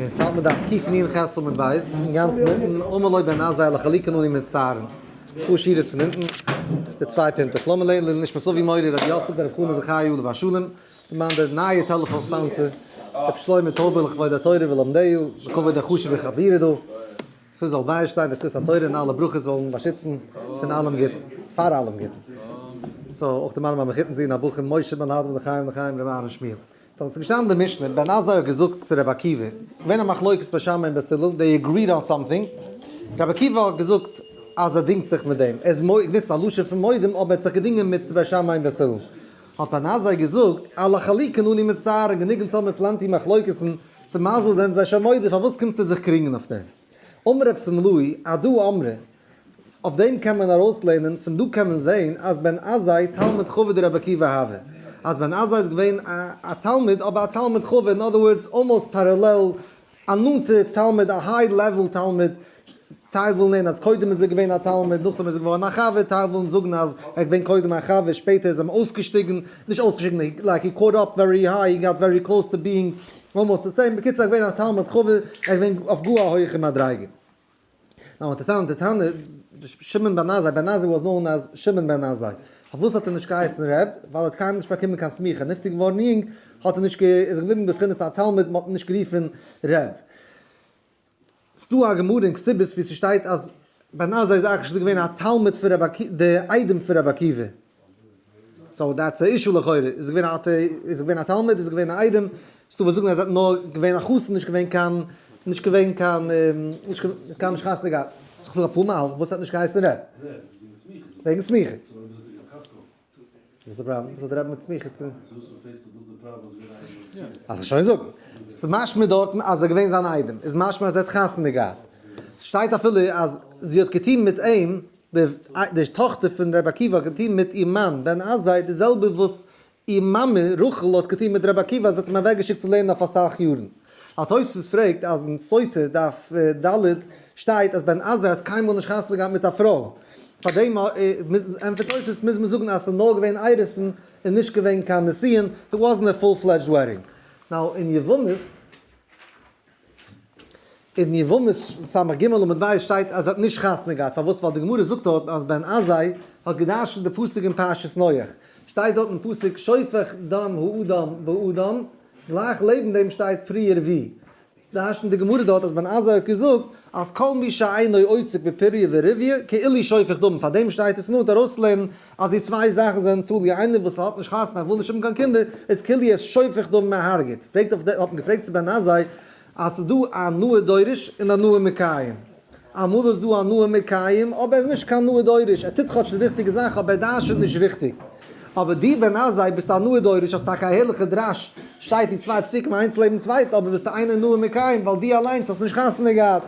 און צייט מען דארף קיף נין חז עמוד ב', אינגאנצן אונטן, אמר לוי בן עזאי לחליקה נני מצטערין, אפאר שורות פון אונטן, די צוויי פינטעך, לאמיר לערנען לעילוי נשמת סבי מורי רבי יוסף בן רבי חנא זכריה עליו השלום, פון מיין די נייע טעלעפאן ספאנסער, רבי שלמה טויבער לכבוד התורה ולומדיה, לכבוד די חשובע חבירה דא, ס'זאל זאל ביישטיין די זכות התורה און אלע ברכות זאלן באשיצן פון אלעם גוטן, פאר אלעם גוטן. סאו אויך די מרמרה מחותן זי נ הבחור משה בן האדמור לחיים לחיים רבי אהרן שמואל. סאו עס איז געשטאנען אין די משנה, בן עזאי האט געזאגט צו רבי עקיבא, עס איז געווען א מחלוקת ביי שמאי און ביי סילון, זיי אגריעד אן סאמטינג, רבי עקיבא האט געזאגט אז ער דינגט זיך מיט דעם, ער איז מודה, גענוצט א לשון פון מודים, אבער ער האט זיך געדינגען מיט ביי שמאי און ביי סילון. האט בן עזאי געזאגט, על החליקין אני מצטער, און גענוג אונז האבן מיר פלענטי מחלוקת'ן, צו מזל זענען זיי שוין מודה, פארוואס קומסטו זיך קריגן אויף דעם? אמר רב שמלאי, עדו אמרי, אויף דעם קען מען ארויסלערנען, פון דא קען מען זעהן אז בן עזאי תלמיד חבר די רבי עקיבא האווע, אז בן עזאי איז געווען א תלמיד אבער א תלמיד חבר, אין אדער ווארדס אלמאוסט פערעלעל, א נאנטע תלמיד, א היי לעוועל תלמיד, טייל ווילן לערנען אז קודם איז ער געווען א תלמיד נאכדעם איז ער געווארן א חבר, טייל ווילן זאגן אז ער איז געווען קודם א חבר שפעטער איז אים אויסגעשטיגן, נישט אויסגעשטיגן לייק הי קאוט אפ ווערי היי, הי גאט ווערי קלאוס טו ביאינג אלמאוסט די סעים, בקיצור ער איז געווען א תלמיד חבר, ער איז געווען אויף גאר א הויעכע מדריגה. נאר אינטערסאנט די טענה, שמעון בן עזאי, בן עזאי וואס נאון עז שמעון בן עזאי, פארוואס האט ער נישט געהייסן רב, ווייל ער האט קיינמאל נישט באקומען קיין סמיכה, נפטר געווארן יונג, האט ער נישט גע איז ער געבליבן בבחינת א תלמיד, מען האט אים נישט גערופן רב. ס'דא א גמרא אין כתובות ווי ס'שטייט אז בן עזאי איז אייך נישט געווען א תלמיד פון רבי עקיבא, די איידעם פון רבי עקיבא. סאו דעטס א אישו לכאורה, איז עס געווען א אתי, איז עס געווען א תלמיד, איז עס געווען א איידעם, ס'דא וואס זאגן אז עס האט נאר געווען א חתן, נישט געווען קיין, נישט געווען קיין, נישט קיין נישט חתונה געהאט, ס'איז דא אפאר מהלך וואס האט נישט געהייסן ר'. וועגן סמיכה. וואס איז די פראבלעם? וואס האט ר' מיט סמיכה צו? אז איך שוין זאגן. ס'איז משמע דארטן אז עס איז געווען זיין איידעם, איז משמע אז ער האט חתונה געהאט. ס'שטייט אפילו אז זי האט געטון מיט אים. די טאכטער פון רבי עקיבא האט געטון מיט איר מאן בן עזאי די זעלבע וואס איר מאמע רחל האט געטון מיט רבי עקיבא אז זי האט אים אוועק געשיקט צו לערנען אויף אסאך יארן. א תוספות פרעגט אז אין סוטה דף ד שטייט אז בן עזאי האט קיינמאל נישט חתונה געהאט מיט א פרוי, פאר דעם ענטפערט תוספות מוז מען זאגן אז עס איז נאר געווען ערוסין און נישט געווען קיין נסיון, איט וואזנט א פול פלעדזשד וועדינג. נאו אין יבמות אין יבמות סמ ג עמוד ב' שטייט אז ער האט נישט חתונה געהאט, פארוואס? ווייל די גמרא זאגט דארטן אז בן עזאי האט גע'דרש'נט די פסוק אין פרשת נח, שטייט דארט אין פסוק שופך דם האדם באדם, גלייך לעבן דעם שטייט פריער ווי דרש'נט די גמרא דארט אז בן עזאי האט געזאגט אז כל מי שאינו עוסק בפריה ורביה כאילו שופך דמים, פאר דעם שטייט עס נאנט ארויסצולערנען אז די צוויי זאכן זענען תלוי, איינער וואס האט נישט חתונה וויל נישט האבן קיין קינדער, איז כאילו ער איז שופך דם מהארגת, פרעגט אויף די, האט מען געפרעגט צו בן עזאי אז ס'איז דא א נאה דורש און א נאה מקיים, אמאל איז דא א נאה מקיים אבער ער איז נישט קיין נאה דורש, ער טוט כאטש די ריכטיגע זאך אבער ער דרש'עט נישט ריכטיג, אבער דו בן עזאי ביסט א נאה דורש, האסט טאקע א הערליכע דרש, שטייט די צוויי פסוקים איינס לעבן צווייטע אבער ביסטו איינער נאה מקיים ווייל דו אליינס האסט נישט חתונה געהאט,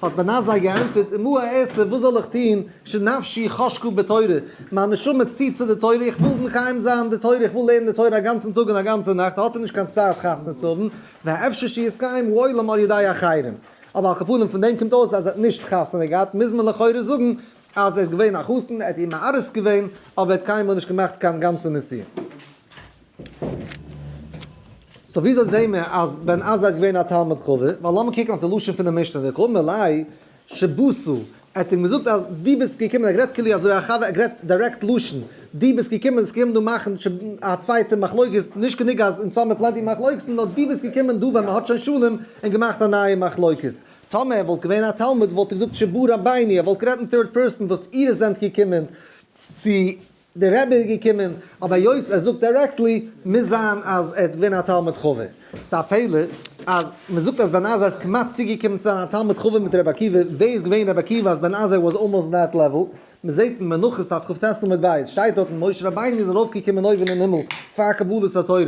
האט בנה זיי געענטפערט, אמו הערסטע וואס זאל איך טון, שנפשי חשקה בתורה, מיין נשמה ציט צו די תורה, איך וויל מקיים זיין די תורה, איך וויל לערנען די תורה א גאנצן טאג און א גאנצע נאכט, האט ער נישט קיין צייט חתונה צו האבן, והאפשר שיסתיים העולם על ידי אחרים. אבער על כל פנים פון דעם קומט אויס אז ער האט נישט חתונה געהאט, מוז מען לכאורה זאגן אז ער איז געווען א חתן, ער האט איר מארס געווען, אבער ער האט קיינמאל נישט געמאכט קיין גאנצע נסיעה. סאו וויאזוי זעהן מיר אז בן עזה איז געווען א תלמיד חבד? ווייל לאמיר קוקן אויף די לשון פונעם משנה וכו', מלאי שבשו, ער האט אים געזאגט אז דו ביסט געקומען, ער האט גערעדט כאילו אזוי א חבר, ער האט גערעדט דירעקט לשון, דו ביסט געקומען, עס קומט דא מאכן א צווייטע מחלוקת, נישט גענוג אז אונז האמיר פלענטי מחלוקת'ן, נאר דו ביסט געקומען דא ווען מען האט שוין שלום, און געמאכט א נייע מחלוקת. טאמער ער וואלט געווען א תלמיד וואלט ער געזאגט שבו רביני, ער וואלט גערעדט אין טירד פערסאן וואס איר זענט געקומען צו די רבי איז געקומען, אבער היות ער זאגט דירעקטלי, מוז זיין אז ער האט געווען א תלמיד חבר. ס'איז א פלא אז מ'זאגט אז בן עזרא איז כמעט צוגעקומען צו זיין א תלמיד חבר מיט רבי עקיבא, ווער איז געווען רבי עקיבא אז בן עזרא וואס אלמאוסט אין דעט לעוול? מ'זעט אין מנחות ת' כב ט עמוד ב', שטייט דארטן, משה רבינו איז ארויפגעקומען אויבן אין הימל פאר קבלת התורה,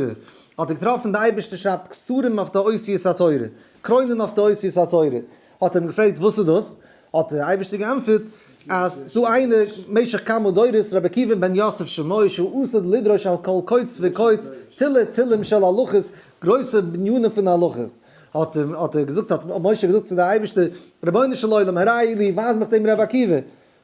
האט ער געטראפן די אייבערשטער שרייבט קסרים אויף די אותיות התורה, קרוינען אויף די אותיות התורה, האט ער אים געפרעגט וואס איז דאס? האט דער אייבערשטער געענטפערט אז ס'איז דא איינער משך כמה דורות רבי עקיבא בן יוסף שמו שהוא אוסר לדרוש על כל קוץ וקוץ תילי תילים של הלכות, גרויסע בנינים פון הלכות, האט ער געזאגט האט משה געזאגט צו די אייבערשטער, רבונו של עולם הראי לי ווייז מיך דעם רבי עקיבא,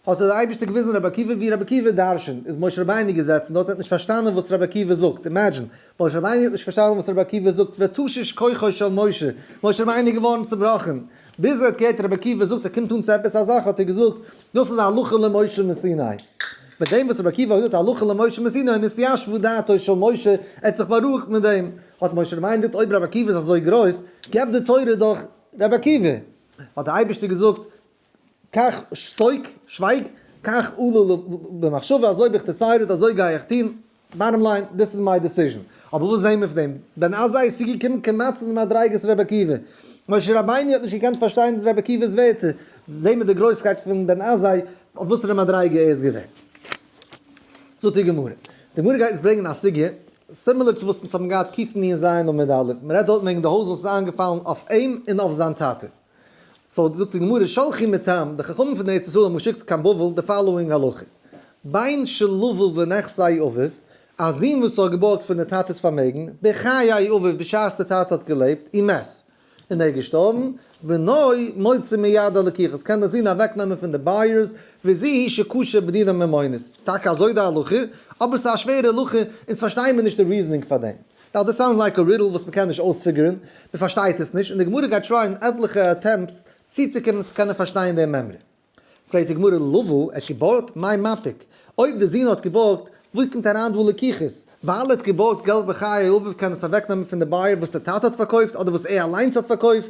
האט דער אייבערשטער געוויזן רבי עקיבא ווי רבי עקיבא דרש'נט, איז משה רבינו געזעצן דארט און האט נישט פארשטאנען וואס רבי עקיבא זאגט, אימעדזשין, משה רבינו האט נישט פארשטאנען וואס רבי עקיבא זאגט, ותשיש כוחו של משה, משה רבינו איז געווארן צובראכן, ביז ער האט געהערט רבי עקיבא זאגט ער קומט אן צו עפעס א זאך האט ער געזאגט, דאס איז הלכה למשה מסיני, מיט דעם וואס רבי עקיבא האט געזאגט הלכה למשה מסיני נתיישבה דעתו של משה, ער האט זיך בארואיגט מיט דעם, האט משה רבינו געזאגט אויב רבי עקיבא איז אזוי גרויס, געב די תורה דורך רבי עקיבא, האט דער אייבערשטער געזאגט קאך, סויק, שווייג, קאך אלל אווער במחשבה, אזוי האב איך דיסיידעד, אזוי גיי איך טון, באטטעם ליין, דיס איז מיי דיסיזשען. אבער וואס ווען מיט דעם? בן עזה איז צוגעקומען כמעט צו די מדריגות רבי עקיבא. משה רבינו האט נישט געקענט פארשטיין רבי עקיבא'ס ווערטער. זעה מיר די גרויסקייט פון בן עזאי אויף וואסערע מדריגה ער איז געווען. זאגט די גמרא. די גמרא גייט יעצט ברענגען א סוגיא, סימילער צו וואס אונז האבן געהאט קיפני אין ז' עמוד א'. מ'רעדט דארט וועגן די הויז וואס איז איינגעפאלן אויף אים און אויף זיין טאטע. סאו זאגט די גמרא שלחי מטעם, די חכמים פון ארץ ישראל האבן געשיקט קיין בבל די פאלאואינג הלכה, בן שלבו בנכסי אביו, א זון וואס האט געבארגט פון די טאטע'ס פארמעגן בחיי אביו בשעת די טאטע האט געלעבט און מת און ער איז געשטארבן, בנו מוציא מיד הלקיחות, קען די זון אוועק נעמען פון די בייערס, וזה היא שקשה בדיני ממונות, ס'איז טאקע אזוי די הלכה, אבער ס'איז א שווערע הלכה, אונז פארשטייען מיר נישט די ריזענינג פאר דעם. נאו דעס סאונדס לייק א רידל וואס מ'קען נישט אויספיגערן, מ'פארשטייט עס נישט, און די גמרא גייט טרייען עטליכע אטעמפטס צוצוקומען צו קענען פארשטיין דעם מימרא. פרעגט די גמרא לבו עת קיבורט, מאי מפיק? אויב די זון האט קיבורט, וואו קומט אריין דא לקיחות? ווייל ער האט קיבורט געלט בחיי אביו קען עס אוועקנעמען פון די בייער וואס די טאטע האט פארקויפט אדער וואס ער אליינס האט פארקויפט,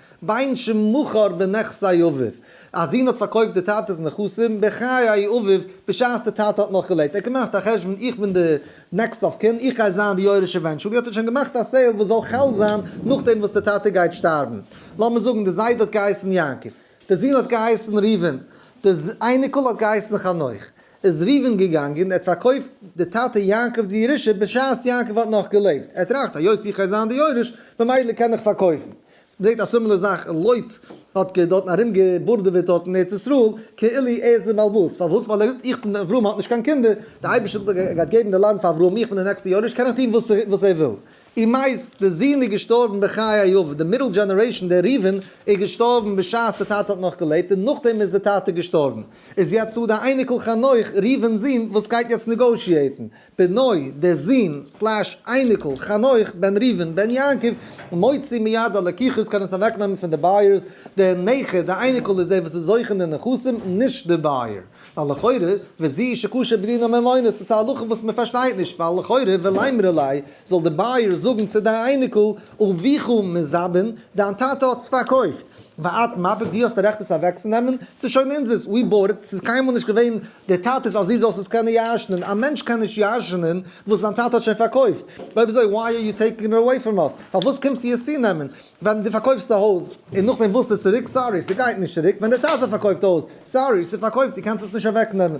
בין שמכר בנכסי אביו, א זון האט פארקויפט די טאטע'ס נכסים בחיי אביו, בשעת די טאטע האט נאך געלעבט, ער האט געמאכט א חשבון איך בין די נעקסט אוו קין, איך גיי זיין די יורש עווענטשועלי, האט ער שוין געמאכט א סעיל וואס זאל חל זיין נאכדעם וואס די טאטע גייט שטארבן, לאמיר זאגן די זיידע האט געהייסן יעקב, די זון האט געהייסן ראובן, די אייניקל האט געהייסן חנוך, איז ראובן געגאנגען ער האט פארקויפט די טאטע יעקב'ס ירושה בשעת יעקב האט נאך געלעבט, ער טראכט היות איך גיי זיין די יורש ממילא קען איך פארקויפן. מ'זעט א סימילער זאך און לוט האט גע דארטן ארום געבורדעוועט דארטן ארץ ישראל כאילו ער איז די בעלבאס פארוואס ווייל ער האט געזאגט איך בין אברהם האט נישט קיין קינדער די אייבערשטער האט געזאגט ער גייט געבן די לאנד פאר אברהם איך בין די נעקסטע יורש קען איך טון וואס וואס ער וויל און מאיז די זון איז געשטארבן בחיי אביו די מידל דזשענערעישן דער ראובן איז געשטארבן בשעת די טאטע האט נאך געלעבט און נאכדעם איז די טאטע געשטארבן איז יעצט דא די אייניקל חנוך ראובן'ס זון וואס גייט יעצט נעגאושיעטן בנו, דער זון, סלאש, אייניקל, חנוך, בן ראובן, בן יעקב, מוציא מיד הלקיחות, קען עס אוועקנעמען פון די בייערס, דער נכד, דער אייניקל, איז דער וואס איז זוכה אין די נכסים, נישט דער בייער. ווייל לכאורה, וזי' שקשה בדין הממונות, עס איז א הלכה וואס מען פארשטייט נישט, ווייל לכאורה, ולאמרי ליה, זאל דער בייער זאגן צו די אייניקל, אביך מזבן, דיין טאטע האט עס פארקויפט, ואת מפק, דו האסט א רעכט עס אוועקצונעמען, עס איז שוין אונזערס, ווי באורד, עס איז קיינמאל נישט געווען דער טאטע איז אז דו זאלסט עס קענען ירש'נען, א מענטש קען נישט ירש'נען וואס זיין טאטע האט שוין פארקויפט, אויב אזוי וויי אר יו טעיקינג איט עוועי פראם אס, פארוואס קומסטו עס צונעמען, ווען דו פארקויפסט א הויז און נאכדעם ווילסטו עס צוריק, סארי ס'גייט נישט צוריק, ווען דער טאטע פארקויפט א הויז, סארי ס'פארקויפט דו קענסט עס נישט אוועקנעמען.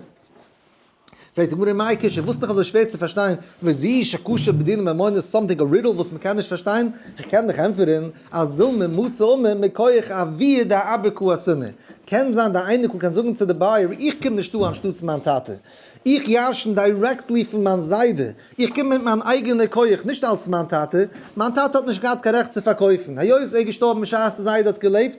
פרעגט די גמרא מאי קשיא, וואס איז דאך אזוי שווער צו פארשטיין, וזי'שע קושיא בדיני ממונות, סאמטינג א רידעל וואס מ'קען נישט פארשטיין, איך קען דיך ענטפערן, אז דילמה מצא אומה מכח אביה דאבק הוא השנאה, קען זיין די אייניקל קען זאגן צו די בייער איך קום נישט דא אנשטאטס מיין טאטע, איך ירשן דירעקטלי פון מיין זיידע, איך קום מיט מיין אייגענע כח נישט אלס מיין טאטע, מיין טאטע האט נישט געהאט קיין רעכט צו פארקויפן, היות ער איז געשטארבן בשעת די זיידע האט געלעבט,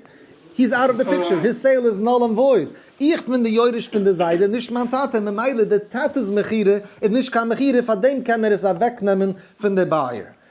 הי איז אוט אוו די פיקטשער, היז סעיל איז נול ענד וואויד, איך בין די יורש פון די זיידע נישט מיין טאטע, ממילא די טאטע'ס מכירה איז נישט קיין מכירה פארדעם קען ער עס אוועקנעמען פון די בייער,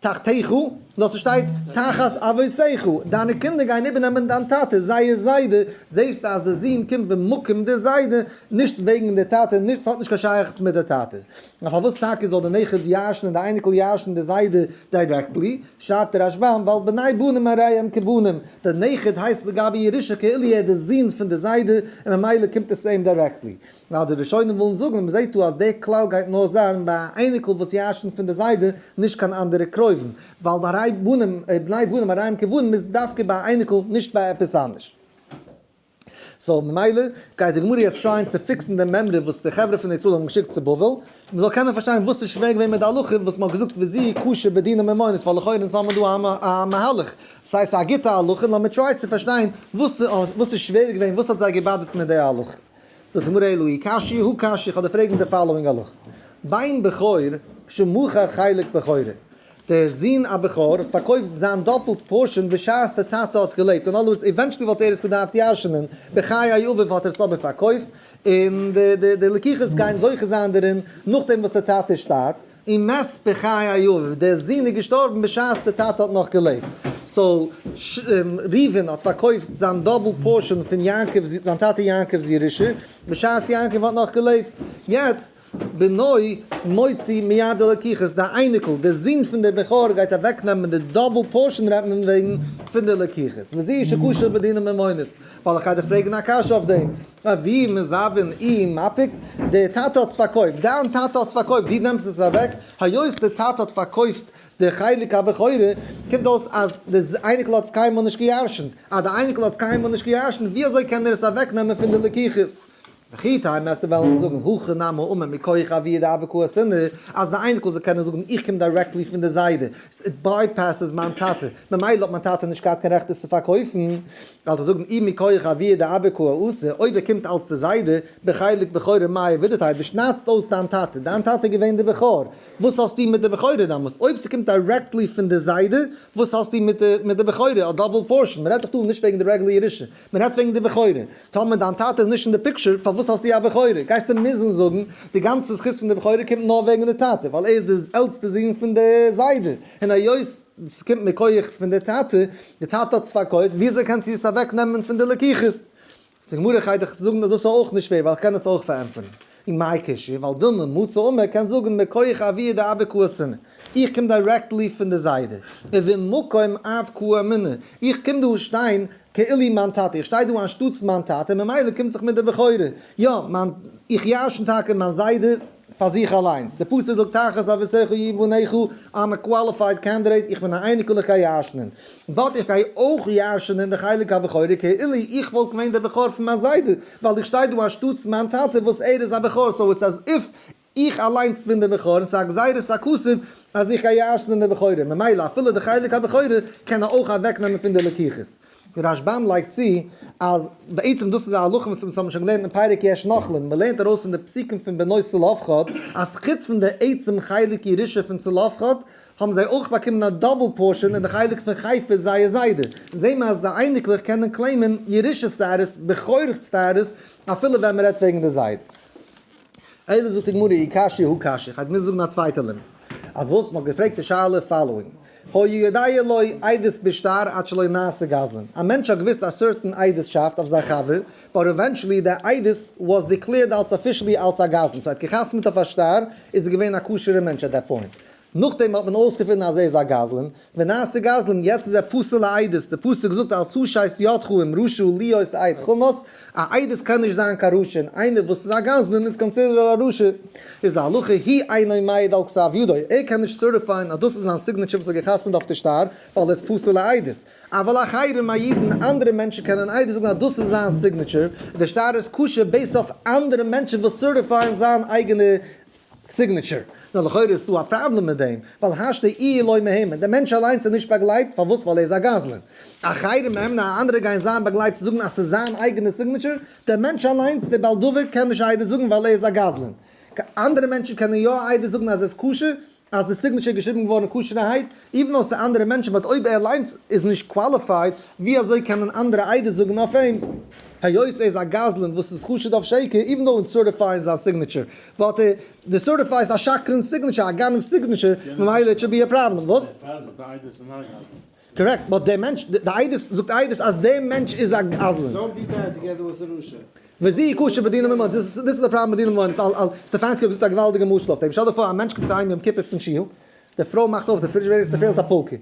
תחתיך, נאר ס'שטייט תחת אבותיך, דיינע קינדער גייען איבערנעמען דיין טאטע, זייער זיידע, זעסטו אז די זון קומט במקום די זיידע, נישט וועגן די טאטע, ס'האט נישט קיין שייכות מיט די טאטע. נאר פארוואס טאקע זאל די נכד ירש'ן און די אייניקל ירש'ן די זיידע דירעקטלי? שרייבט דער רשב ם, ווייל בני בנים הרי הם כבנים, דער נכד הייסט לגבי ירושה כאילו ער איז די זון פון די זיידע, און ממילא קומט עס אים דירעקטלי. ווייל די ראשונים ווילן זאגן אז מ'זעהט דא אז די כלל גייט נאר זיין ביי א אייניקל וואס ירש'נט פון די זיידע, נישט קיין אנדערע קרובים, ווייל ביי ריי בנים, בני בנים הרעים כבנים איז דווקא ביי א אייניקל נישט ביי עפעס אנדערש. סאו ממילא גייט די גמרא יעצט טרייען צו פיקסן דעם מימרא וואס די חברה פון ישראל האבן געשיקט צו בבל, מ'זאל קענען פארשטיין וואס איז שווער געווען מיט די הלכה וואס מ'האט געזאגט וזי' קשה בדיני ממונות ווייל לכאורה אונז האבן דא א מהלך, ס'הייסט א גוטע הלכה, לאמיר טריי צו פארשטיין וואס איז שווער געווען, וואס האט זיי געבאדערט מיט די הלכה. זאגט די גמרא אלא היא קשיא הוא קשיא, איך האב דיר פרעגן די פאלאווינג הלכה, בן בכור שמכר חלק בכורו, דער זון א בכור האט פארקויפט זיין דאפלט פארשען בשעת דער טאטע האט געלעבט, אין אנדערע ווארט עווענטשעלי וואלט ער עס געדארפט ירש'נען בחיי אביו האט ער עס אבער פארקויפט, און די לקיחות גייען זוכה זיין דערין נאכדעם וואס דער טאטע שטארבט. און מת בחיי אביו, דער זון איז געשטארבן בשעת דער טאטע האט נאך געלעבט, סאו ראובן האט פארקויפט זיין דאבל פארשען פון יעקב זיין טאטע יעקב'ס ירושה, בשעת יעקב האט נאך געלעבט, יעצט בנו מוציא מיד הלקיחות, די אייניקל, דער זון פון דער בכור גייט אוועק נעמען די דאבל פארשען רעדט מען וועגן פון די לקיחות, וזי' שקשר בדינא ממונות. וועל איך איידער פרעגן א קשיא אויף דעם, אבי מזוון אי מפיק, דער טאטע האט עס פארקויפט, דיין טאטע האט עס פארקויפט, דו נעמסט עס אוועק, היות דער טאטע האט פארקויפט די חלק הבכורה, קומט אויס אז דער אייניקל האט עס קיינמאל נישט געירשנט, אז דער אייניקל האט עס קיינמאל נישט געירשנט, ווי אזוי קען ער עס אוועקנעמען פון די לקיחות? וכי טעמא אז די וועלן זאגן הכא נמי האומר מכח אביה דאבק הוא השנאה, אז די אייניקל זאל קענען זאגן איך קום דירעקטלי פון די זיידע, סאו איט בייפעסס מיין טאטע, ממילא האט מיין טאטע נישט געהאט קיין רעכט עס צו פארקויפן, וועל איך זאגן אי מכח אביה דאבק הוא האשה, אויב ער קומט אלץ די זיידע, בחלק בכורה מאי עבידתא, דו שניידסט אויס דיין טאטע, דיין טאטע איז געווען די בכור, וואס האסטו מיט די בכורה דאמאלס, אויב ס'קומט דירעקטלי פון די זיידע, וואס האסטו מיט די בכורה, א דאבל פארשען, מ'רעדט דאך דא נישט וועגן די רעגולער ירושה, מ'רעדט וועגן די בכורה. טאמער דיין טאטע איז נישט אין די פיקטשער, פארוואס האסטו א בכורה? גייסטו מוזן זאגן, די גאנצע זכות פון די בכורה קומט נאר וועגן די טאטע, ווייל ער איז די עלטסטע זון פון די זיידע, און היות עס קומט מכח פון די טאטע, די טאטע האט עס פארקויפט, וויאזוי קענט איר עס אוועקנעמען פון די לקוחות? די גמרא גייט דיך זאגן אז דאס איז אויך נישט פעיר, ווייל איך קען עס אויך פארענטפערן. און מאי קשיא, ווייל דילמא מצא און מען קען זאגן מכח אביה דאבק הוא השנאה, איך קום דירעקטלי פון די זיידע, און וממקום אבק הוא המנע, איך קום דא שטיין כאילי מיין טאטע, איך שטיי דא אנשטאטס מיין טאטע, ממילא קומט זיך מיט די בכורה, יא, איך ירשן טאקע מיין זיידע פאר זיך אליינס, די פסוק זאגט תחת אביסך יהיו בניך, איים א קוואליפייד קענדידעיט, איך בין א אייניקל איך גיי ירשנען. באט איך גיי אויך ירש'נען די חלק הבכורי כאילו איך וואלט געווען דער בכור פון מיין זיידע, ווייל איך שטיי דא אנשטאטס מיין טאטע וואס ער איז א בכור, סאו איטס עז איף איך אליינס בין דער בכור און ס'איז א גזירת הכסף אז איך גיי ירש'נען די בכורים, ממילא אפילו די חלק הבכורי קען ער אויך אוועק נעמען פון די לקיחות. רשבם לייגט צו אז בעצם דאס איז א הלכה וואס מ'האט שוין געלערנט אין פרק יש נוכלים, מ'לערנט ארויס פון די פסוקים פון בנות צלפחד אז חוץ פון די עצם חלק ירושה פון צלפחד, האבן זיי אויך באקומען א דאבל פארשען אין די חלק פון חיפה זייער זיידע זעהן מיר אז די אייניקלעך קענען קלעימען ירושה סטאטוס בכורך סטאטוס אפילו ווען מען רעדט וועגן די זיידע איידער זאגט די גמרא אי קשיא הוא קשיא כ'האב געמוזט זאגן א צווייטע לימוד אז וואס מ'האט געפרעגט די שאלה פאלאואינג הוי יודע לוי עדות בשטר עד שלא נעשה גזלן א מענטש האט געוויסט א סערטען עדות'שאפט אויף זיין חבר באט עווענטשעלי די עדות וואס דיקלעירד אלס אפישעלי אלס א גזלן סאו ער האט געחתמ'ט אויף א שטר איז ער געווען א כשר'ע מענטש עט דעט פוינט נאכדעם האט מען אויסגעפונען אז ער איז א גזלן, ונעשה גזלן, יעצט איז ער פסול לעדות, די פסוק זאגט אל תשית ידך עם רשע להיות עד חמוס, א עדות קען נישט זיין קיין רשע, און איינער וואס איז א גזלן איז קאנסידערט א רשע, איז להלכה הי אינו מעיד על כתב ידו, ער קען נישט סערטיפייען אז דאס איז זיין סיגנעטשער וואס ער האט גע'חתמ'ט אויף די שטר, ווייל ער איז פסול לעדות, אבל אחרים אידן, אנדערע מענטשן קענען איידער זאגן אז דאס איז זיין סיגנעטשער, און די שטר איז כשר בעיסד אויף אנדערע מענטשן וואס סערטיפייען זיין אייגענע. סיגניטשער, נאר לכאורה איז דא א פראבלעם מיט דעם, ווייל השתא אי לא מהימן, דער מענטש אליינס איז נישט באגלייבט, פארוואס? ווייל ער איז א גזלן. אחרים מהימנא, א אנדערע גייען זיין באגלייבט צו זאגן אז ס'איז זיין אייגענע סיגניטשער, דער מענטש אליינס, דער בעל דבר, קען נישט א עדות זאגן ווייל ער איז א גזלן. אנדערע מענטשן קענען יא א עדות זאגן אז עס איז כשר, אז די סיגניטשער איז געשריבן געווארן כשר'הייט, איווען אויף צו אנדערע מענטשן, באט אויב ער אליינס איז נישט קוואליפייד, ווי אזוי קענען אנדערע עדות זאגן אויף אים, היות ער איז א גזלן וואס איז חשוד אויף שקר, איווען דאו און סערטיפייען זיין סיגניטשער. באט די סערטיפיי איז א שקרן סיגנעטשער, א גנב סיגנעטשער, ממילא איט שוד בי א פראבלעם, וואס? קארעקט, באט די מענטש, די עדות זאגט עדות אז די מענטש איז א גזלן. וזיהי קשה בדינא ממון, דיס איז די פראבלעם בדינא ממון, סטעפאנסקי האט געזאגט א געוואלדיגע משל אויף דעם, שטעל דיר פאר א מענטש קומט אהיים יום כיפור פון שול, די פרוי מאכט אויף די פרידזשעדער און ס'פעלט א פולקע,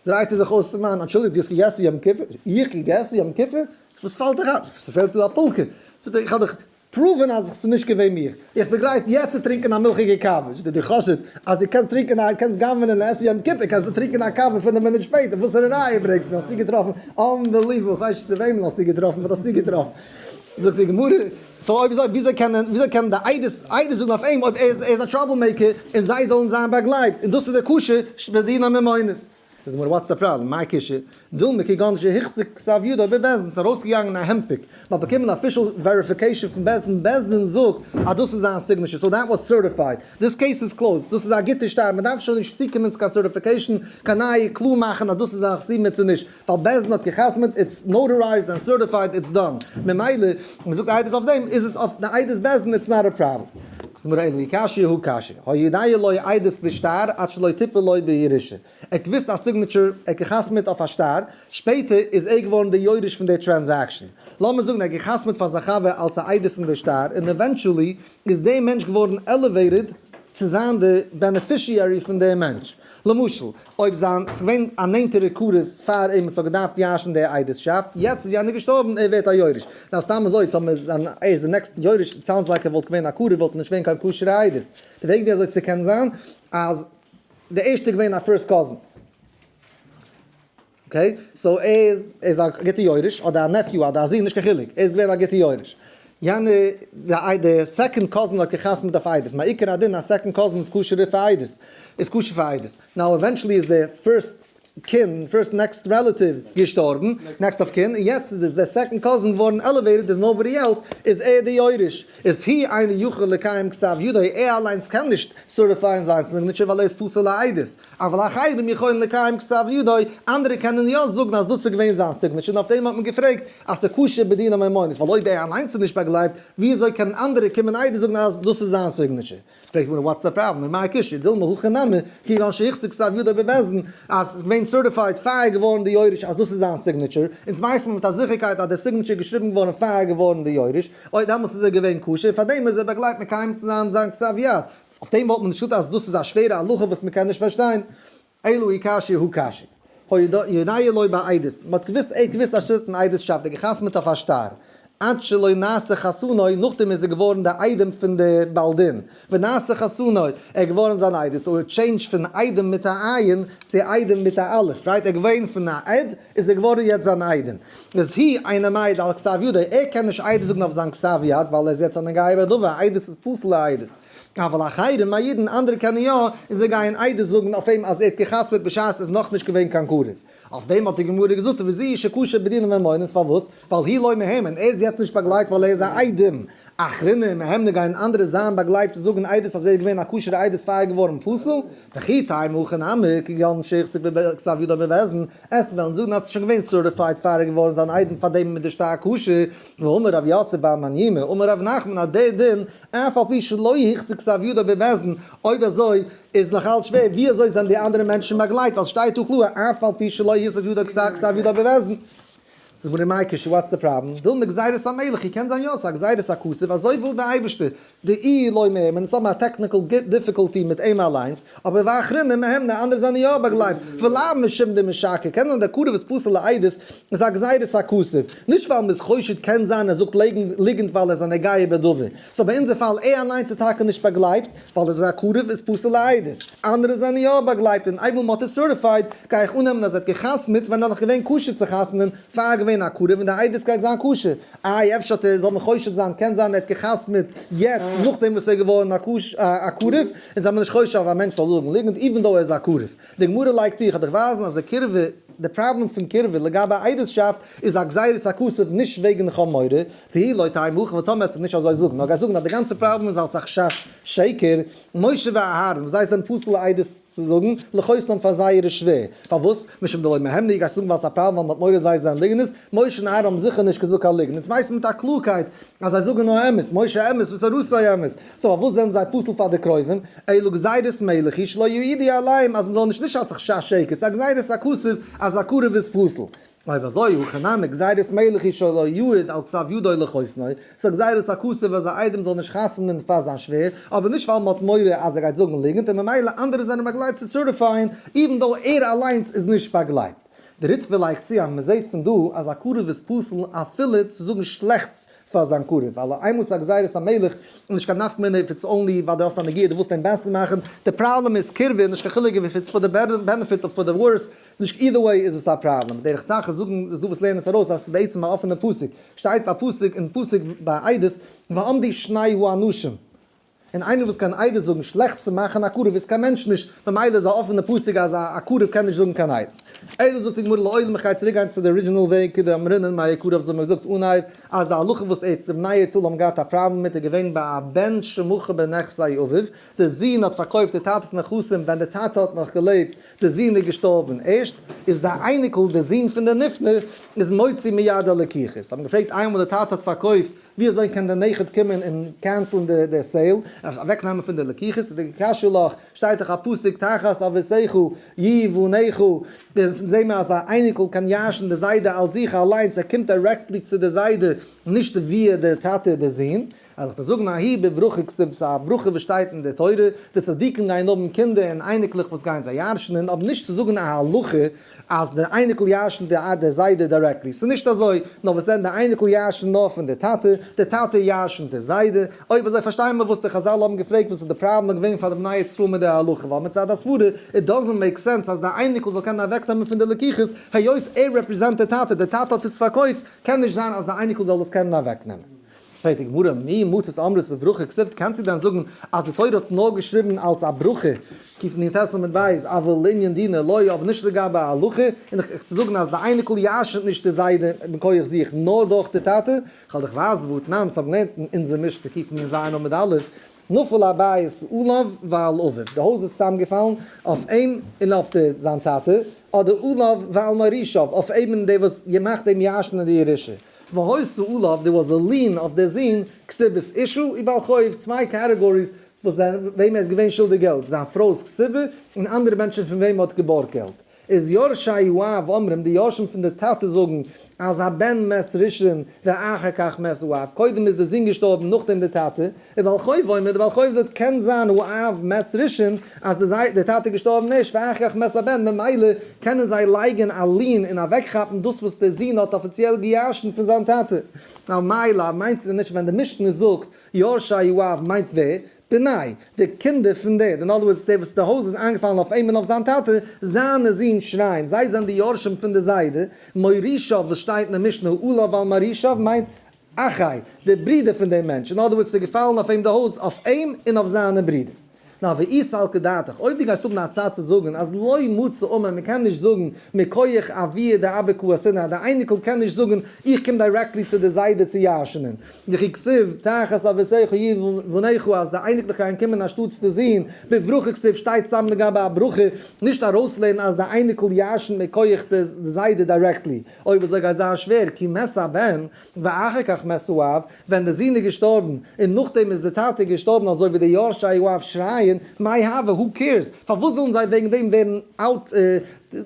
דרייט ער זיך אויס צום מאן, אנטשולדיגט, דו האסט געגעסן יום כיפור? איך געגעסן יום כיפור? וואס פאלט דיר איין? ס'פעלט דא א פולקע? זאגט ער, איך האב דיך פראוון אז ס'איז נישט געווען מיך, איך בין גרייט יעצט צו טרינקען א מילכיגע קאווע. זאגט ער, דו חסיד, אז דו קענסט טרינקען א, קענסט גנב'ענען און עסן יום כיפור, קענסטו טרינקען א קאווע פינף מינוט שפעטער. וואסערע ראיה ברענגסטו? האסטו געטראפן? אנבעליוועבל! כ'ווייס נישט צו וועמען האסטו געטראפן, באט האסטו געטראפן. זאגט די גמרא. סאו אויב אזוי וויאזוי קען וויאזוי קענען די איידעס איידעס זאגן אויף אים אויב ער איז ער איז א טראבל מעיקער און זיי זאלן זיין באגלייבט און דאס איז די קושיא שבדין הממונות. זאגט די גמרא וואטס די פראבלעם מיי קושיא דילמא כגון שהחזיק כסף ידו בבית דין ס'איז ארויסגעגאנגען א הענדפיק מ'האט באקומען אפישעל וועריפיקעישן פון בית דין בית דין זאגט אז דאס איז זיין סיגנעטשער סאו דעט וואס סערטיפייד דיס קעיס איז קלאוזד דאס איז א גוטע שטארט מ'דארף שוין נישט צוקומען צו קיין סערטיפיקעישן קיין נייע קלאר מאכן אז דאס איז א חסימה צו נישט. ווייל בעש ט האט גע'חתמ'עט, איטס נאוטערייזד ענד סערטיפייד, איטס דאן. ממילא, מען זאגט א עדות אויף דעם, איז עס אויף די עדות בעש ט, איטס נאט א פראבלעם. זאגט די גמרא אין לי קשיא הוא קשיא, היודעי לוי עדות בשטר עד שלא תיפול לוי בירושה. ער האט געוואוסט א סיגנעטשור, ער האט גע'חתמ'עט אויף א שטר, שפעטער איז ער געווארן דער יורש פון דער טרענזעקשאן. לאמיר זאגן ער האט גע'חתמ'עט פאר זיין חבר אלס א עדות אין דער שטר, און עווענטואלי איז דער מענטש געווארן עלעוועיטעד צו זיין דער בענעפישיערי פון דעם מענטש. למשל, אויב זיין ס'געווען א נענטערע קרוב פאר אים וואס האט געדארפט ירש'ן די איידעסשאפט, יעצט איז יענער געשטארבן, ער ווערט א יורש. נאר סתם אזוי טאמער איז זיין ער איז די נעקסטן יורש, איט סאונדס לייק ער וואלט געווען א קרוב וואלט נישט געווען קיין כשר'ע איידעס. די וועג ווי אזוי ס'קען זיין אז די ערשטע איז געווען א פירסט קאזין. אקעי, סאו ער איז א גוטע יורש, אדער א נעפיו אדער א זון נישט קיין חילוק, ער איז געווען א גוטע יורש. יענע די איי די סעקאנד קאזין האט געחתמ'ט אויף איידעס מיין עיקר הדין אז סעקאנד קאזין איז כשר'ער פאר איידעס איז כשר פאר איידעס נאו עווענטשעלי איז די פירסט קינד פירסט נעקסט רעלעטיוו געשטארבן נעקסט אויף קין און יעצט איז די סעקאנד קאזין געווארן עלעוועיטעד איז נאובאדי עלס איז ער די יורש איז הי אינו יכול לקיים כתב ידו ער אליינס קען נישט סערטיפייען זיין סיגנעטשער ווייל ער איז פסול לעדות אבל אחרים יכולים לקיים כתב ידו אנדערע קענען יא זאגן אז דאס איז געווען זיין סיגנעטשער און אויף דעם האט מען געפרעגט אז ס'איז כשר בדין המיימונות, ווייל אויב ער אליינס איז נישט באגלייבט, וויאזוי קענען אנדערע קומען עדות זאגן אז דאס איז זיין סיגנעטשער? פרעגט מיר וואטס די פראבלעם און מאי קשיא, דילמא הכי נמי, כאילו אנשי היכסה כסב ידו בבעסדן, אז ס'איז געווען סערטיפייד פאר געווארן די יורש אז דאס איז זיין סיגנעטשער, אונז ווייסט מען מיט א זיכערקייט אז די סיגנעטשער איז געשריבן געווארן פאר געווארן די יורש, אוי דעמאלס איז ער געווען כשר, פארדעם איז ער באגלייבט מקיים צו זיין זיין כסב יד, אויף דעם וואלט מען נישט געזאגט אז דאס איז א שווערע הלכה וואס מ'קען נישט פארשטיין. אילו היא קשיא הוא קשיא. הודיע לוי בעדות, מען האט געוואוסט ער האט געוואוסט אז שטן איידעס שאפט, ער האט געחתמעט אויף א שטר, עד שלא נעשה חתנו, נאכדעם איז ער געווארן דער איידעם פון דער בעל דין, ונעשה חתנו, ער איז געווארן זיין איידעס, און טשעינדזש פון איידעם מיט א עין צו איידעם מיט א אלף, רייט, ער איז געווען פון א עד איז ער געווארן יעצט זיין איידעם, איז הי אינו מעיד על כתב ידו, ער קען נישט עדות זאגן אויף זיין כתב יד ווייל ער איז יעצט אן אנגייעבער דובר, עדות איז פסול לעדות. אבל אחרים מעידין אנדערע קענען יא, און זיי גייען עדות זאגן אויף אים אז ער האט גע'חתמ'עט בשעת עס איז נאך נישט געווען קיין קרוב. אויף דעם האט די גמרא געזאגט וזיהי שקשה בדינים וממונות פארוואס? ווייל הי' לא מהימן, ער איז יעצט נישט באגלייבט ווייל ער איז א איידעם. אחרינן מהימנא גייען אנדערע זיין באגלייבט צו זאגן עדות אז ער איז געווען א כשר'ע עדות פאר ער איז געווארן פסול? וכי תי' מוכא נמי, כגון שיח ספר בכסף ידו בבעסדן, עסט וועלן זאגן אז עס איז שוין געווען סערטיפייד פאר ער איז געווארן זיין איידעם פאר דעם איז מען דערשטארק כשר, ואמר רב יוסף בר מנימא, אמר רב נחמן אז דער דין אף על פי שלא החזיק סב יודא בבעסדן, אויב אזוי איז נאך אלץ שווער, ווי אזוי זענען די אנדערע מענטשן באגלייט אז שטייט דא קלאר אף על פי שלא החזיק יודא כסב יודא בבעסדן? זאג מיר ר' מייקל שו וואטס די פראבלעם? וויל מען גזירת המלך, איר קענט זיין יא, ס'איז א גזירת הכסף, אזוי וויל די אייבערשטער, די אי לא מער, מען איז האבן א טעקניקעל דיפיקאלטי מיט אים אליינס, אבער ואחרונים מהם די אנדערע זענען יא באגלייבט, ולמה שומדים משקר, קען זיין דער קרוב איז פסול לעדות, איז א גזירת הכסף, נישט ווייל מ'איז חושד קען זיין ער זאגט ליגנט ווייל ער איז א נוגע בדבר, סאו ביי אונזער פאל ער אליינס איז טאקע נישט באגלייבט ווייל ער איז א קרוב איז פסול לעדות, אנדערע זענען יא באגלייבט און איידער מ'האט עס סערטיפייד גיי איך אננעמען אז ער האט גע'חתמ'עט ווען ער נאך געווען כשר צו חתמ'נען פאר ער איז געווען א קרוב און די עדות גייט זיין כשר, איי אפשר האט ער זאל מען חושד זיין קען זיין ער האט גע'חתמ'עט יעצט נאכדעם וואס ער איז געווארן א קרוב און זיי האבן נישט חושד אויף א מענטש זאל זאגן ליגנט איווען דאו ער איז א קרוב. די גמרא לייגט צו, איך וועל דיך ווייזן אז די קירבה, די פראבלעם פון קירבה לגבי עדות'שאפט איז א גזירת הכסף נישט וועגן חמורי, והיא לא תהא עמך, וואס טאמער עסטו נישט אזוי זאגן, נאר גייסט זאגן אז די גאנצע פראבלעם איז אלס א חשש שקר, משה ואהרן וואס זיי זענען פסול עדות צו זאגן, לחותנם פאר זיי איז עס שווער, פארוואס? משום דלא מהימני, גייסט זאגן ווייל עס איז א פראבלעם ווייל מען האט מורא זיי זענען ליגענערס, משה און אהרן האבן זיכער נישט געזאגט קיין ליגן, יעצט ווייסט מען מיט א קלארקייט אז זיי זאגן נאר אמת, משה אמת וואס איז רוסי אמת. סאו פארוואס זענען זיי פסול פאר די קרובים? אלא גזירת מלך היא שלא יעידי עליהם אז מ'זאל נישט נישט עשך שש שקר, ס'איז א גזירת הכסף אז א קרוב איז פסול. אויב אזוי הכי נמי גזירת מלך היא שלא יעיד על כסף ידו לחותנו, ס'איז א גזירת הכסף אז א איידעם זאל נישט חתמ'נען פאר זיין שווער, אבער נישט ווייל מ'האט מורא אז ער גייט זאגן ליגנט און ממילא אנדערע זענען באגלייבט צו סערטיפייען איווען דאו ער אליינס איז נישט באגלייבט. די ריטבא לייגט צו אז מ'זעט פון דא אז א קרוב איז פסול אפילו צו זאגן שלעכטס פאר זיין קרוב, ווייל איין מאל ס'איז א גזירת המלך איז נישט קיין נפק מ איף איטס אנלי ווייל די האסט א נגיעה די ווילסט אים בעסער מאכן, די פראבלעם איז קירבה נישט קיין חילוק איף איטס פאר די בענעפיט אדער פאר די ווארס, נישט אידער וועי איז עס א פראבלעם, דרך צ ח זאגן איז דא וואס לערנען עס ארויס אז בעצם א אפענע פסוק שטייט א פסוק אין פסוק ביי עדות ועמדי שני האנשים און איינער וואס קען עדות זאגן שלעכט צו מאכן א קרוב איז קיין מענטש נישט, ממילא איז א אפענע פסק אז א א קרוב קען נישט זאגן קיין עדות. עדות זאגט די גמרא לאויז מיך גיי צוריק גיין צו די ארידזשינעל וועג כדי האבן רנן מאיר קרוב זיי האבן געזאגט אנהייב אז די הלכה וואס עדס די בני ישראל האבן געהאט א פראבלעם מיט איז געווען ביי א בן שמחה בנכסי אביו די זון האט פארקויפט די טאטעס נכסים ווען די טאטע האט נאך געלעבט די זון איז געשטארבן ערשט איז די אייניקל די זון פון די נפטר איז מוציא מיד די לקיחות האבן געפרעגט איינמאל די טאטע האט פארקויפט ווי אזוי קען דער נכד קומען און קענסלן די סעיל, אוועקנעמען פון די לקוחות, די קשה'לעך, שטייט דאך א פסוק תחת אבותיכו י ו נעכו, זעהן מיר אז א אייניקל קען ירש'ן די זיידע אלס זיך אליינס, ער קומט דירעקטלי צו די זיידע, נישט וויעא די טאטע און די זון. אז איך דארף זאגן א הי' בברכו כסוף, ס'איז א ברכה וואס שטייט אין די תורה, די צדיקים גייען האבן קינדער און אייניקלעך וואס גייען זיי ירש'נען, אבער נישט צו זאגן א הלכה אז די אייניקל ירש'ן די אט די זיידע דירעקטלי, ס'איז נישט אזוי, נאר וואס זענען די אייניקל ירש'ן נאר פון די טאטע, די טאטע ירש'ן די זיידע, אויב אזוי פארשטיי מיר וואס די חזל האבן געפרעגט וואס איז די פראבלעם געווען פאר די בני ישראל מיט די הלכה, ווייל מצד הסברה איט דאזענט מעיק סענס אז די אייניקל זאל קענען אוועק נעמען פון די לקיחות, היות ער רעפריזענט די טאטע, די טאטע האט עס פארקויפט, קען נישט זיין אז די אייניקל זאל עס קענען אוועק נעמען. פרעגט די גמרא, מי מוצץ אמרת בברכה כספת, קענסטו דען זאגן אז די תורה האט עס נאר געשריבן אלס א ברכה, כפ נ ט סימן ב', אבל לענין דינא לא, אבער נישט לגבי א הלכה, און איך צו זאגן אז די אייניקל ירש'נט נישט די זיידע מכח זיך, נאר דורך די טאטע, כ'וועל דיך ווייזן וואו תנא אונז האבן געלערנט אין אונזער משנה כפ מ ז עמוד א', נפל הבית עליו ועל אביו, די הויז איז צוזאמגעפאלן אויף אים און אויף די זיין טאטע, אדער עליו ועל מורישיו, אויף אים און די וואס מאכט אים ירש'נען די ירושה. והוי סעוליו דער וואס זאל ליען אויף דער זון, כסובה'ס אישו, און בעל חוב, צוויי קאטעגאריס וואס זיי וועם ער איז געווען שולדיג געלט, זיין פרוי'ס כסובה, און אנדערע מענטשן פון וועם ער האט געבארגט געלט. איז יורשי י אומרים, די יורשים פון די טאטע זאגן, אז הבן מת ראשון ואחר כך מת אב, קודם איז דער זון געשטארבן נאכדעם דער טאטע, וועל חוב עומד וועל חוב זאגט קען זיין הוא אב מת ראשון אז די זיידע די טאטע איז געשטארבן ערשט ואחריך מת הבן ממילא קענען זיי לייגען א לין און אוועקכאפן דאס וואס די זון האט אפיציעל געירשנט פון זיין טאטע על מאי לאו מיינט נישט ווען די משנה זאגט יורשי הוא אב מיינט ווער? בני די קינדער פון די אין אדער ווארדס די וואס די הויז איז איינגעפאלן אויף אים און אויף זיין טאטע זיינע זין שרייען זיי זענען די יורשים פון די זיידע מורישיו וואס שטייט אין די משנה הוא אב על מורישיו מיינט אחיי, די ברידער פון דעם מענטש, אין אדער ווארדס, ס'איז געפאלן אויף אים די הויז, אויף אים און אויף זיינע ברידערס. נא והאי סלקא דעתך, אויב דו גייסט האבן א צד צו זאגן אז לא מצא אומן, מען קען נישט זאגן מכח אבי' דאבק הוא השנאה, די אייניקל קען נישט זאגן איך קום דירעקטלי צו די זיידע צו ירש'נען, וכי כסיב תחת אביסיך יהיו בניך אז די אייניקלעך גייען קומען אנשטאט צו די זין, בברכה כסיב שטייט סתם לגבי א ברכה, נישט ארויסלערנען אז די אייניקל ירש'נט מכח די זיידע דירעקטלי. אויב אזוי גייט זיין שווער כי מת הבן ואחר כך מת האב, ווען די זון איז געשטארבן און נאכדעם איז די טאטע געשטארבן אזוי ווי די יורשי האב שרייען מאי הוה הו קעירס, פארוואס זאלן זיי וועגן דעם ווערן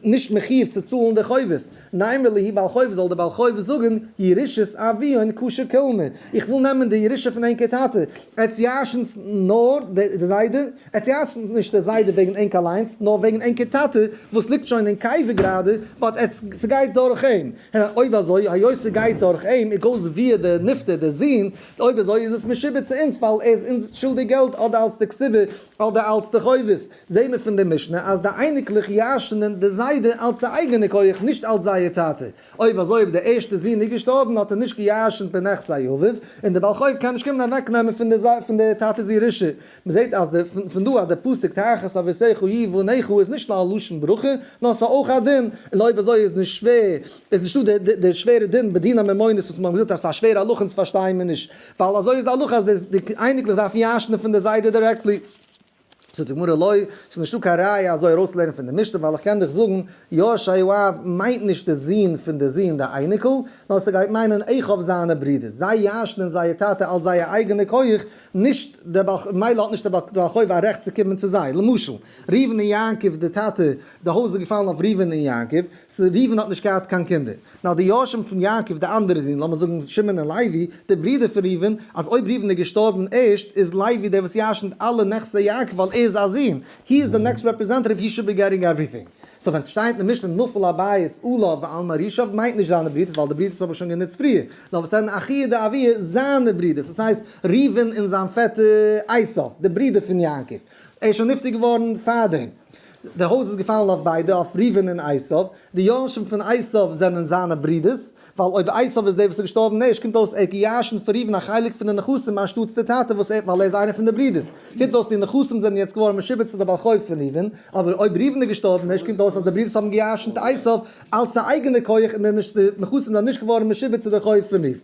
נישט מחיוב צו צאלן די חובות, נאמר ליהי בעל חוב זאל די בעל חוב זאגן ירושת אבי און קשה כעלמא, איך וויל נעמען די ירושה פון ענקער טאטע, עטס ירשנ'ס נאר די זיידע, ער צוייסנט נישט די זיידע וועגן ענק אליינס, נאר וועגן ענקער טאטע וואס ליגט שוין אין קבר גראדע, באט עטס ס'גייט דורך אים, הע אויב אזוי, היות ס'גייט דורך אים, איז גאוס ווער די נפטר, די זון, אויב אזוי איז עס משועבד צו אונז ווייל ער איז אונז שולדיג געלט אדער אלס די קצבה אדער אלס די חובות, זעהן מיר פון די משנה אז די אייניקלעך ירש'נען די זיידע אלס די אייגענע כח נישט אלס זייער טאטע, אויב אזוי אויב די ערשטע זון איז געשטארבן האט ער נישט געירש'נט פון נכסי אביו, און די בעל חוב קען נישט קומען אוועקנעמען פון די פון די טאטע'ס ירושה, מען זעט אז די פון דא אז די פסוק תחת אביסיך היא ואניך הוא איז נישט נאר א לשון ברכה, נאר עס איז אויך א דין, און אויב אזוי איז נישט שווער, איז נישטא די די די שווערע דין בדין הממונות וואס מיר האבן געזאגט אז עס איז א שווערע הלכה אונז פארשטייען מיר נישט, ווייל אזוי איז די הלכה אז די די אייניקלעך דארפן ירש'נען פון די זיידע דירעקטלי. זאגט די גמרא לא, עס איז נישטא קיין ראיה אזוי ארויסצולערנען פון די משנה, ווייל איך קען דיך זאגן, יורשיו אב מיינט נישט די זון פון די זון די אייניקל, נאר עס גייט מיינען איך אויף זיינע ברודערס, זיי ירש'נען זייער טאטע אלס זייער אייגענע כח, נישט דער בעל חוב, מילא האט נישט דער בעל חוב א רעכט צו קומען צו זיי, למשל, ראובן און יעקב די טאטע, די הויז איז געפאלן אויף ראובן און יעקב, ס ה ראובן האט נישט געהאט קיין קינדער, נאר די יורשים פון יעקב די אנדערע זין, לאמיר זאגן שמעון און לוי, די ברודער פון ראובן, אז אויב ראובן איז געשטארבן ערשט, איז לוי דער וואס ירש'נט אלע נכסי יעקב ווייל ער איז א זון, הי איז די נעקסט רעפרעזענטעטיוו הי שוד בי געטינג עווריטינג. סאו ווען סשטייט אין די משנה נפל הבית עליו ועל מערישיו מיינט נישט זיינע ברודערס ווייל די ברודערס האבן שוין גענוצט פריער, נאר וואס זענען אחיה דאביה, זיינע ברידער, ס'איז הייסט ראובן און זיין פעטער עשיו, די ברידער פון יעקב, ער איז שוין נפטר געווארן פארדעם, די הויז איז געפאלן אויף ביידע, אויף ראובן און עשיו, די יורשים פון עשיו זענען זיינע ברידערס, ווייל אויב עשיו איז דער וואס איז געשטארבן ערשט קומט אויס ער האט גע'ירש'נט פון ראובן א חלק פון די נכסים אנשטאטס די טאטע וואס ער האט ווייל ער איז איינער פון די ברידערס, קומט אויס די נכסים זענען יעצט געווארן משועבד צו די בעל חוב פון ראובן, אבער אויב ראובן איז געשטארבן ערשט קומט אויס אז די ברידערס האבן גע'ירש'נט עשיו, אלץ א אייגענע כח אין דער נישט דער נכסים זענען נישט געווארן משועבד צו דער חוב פון איוב.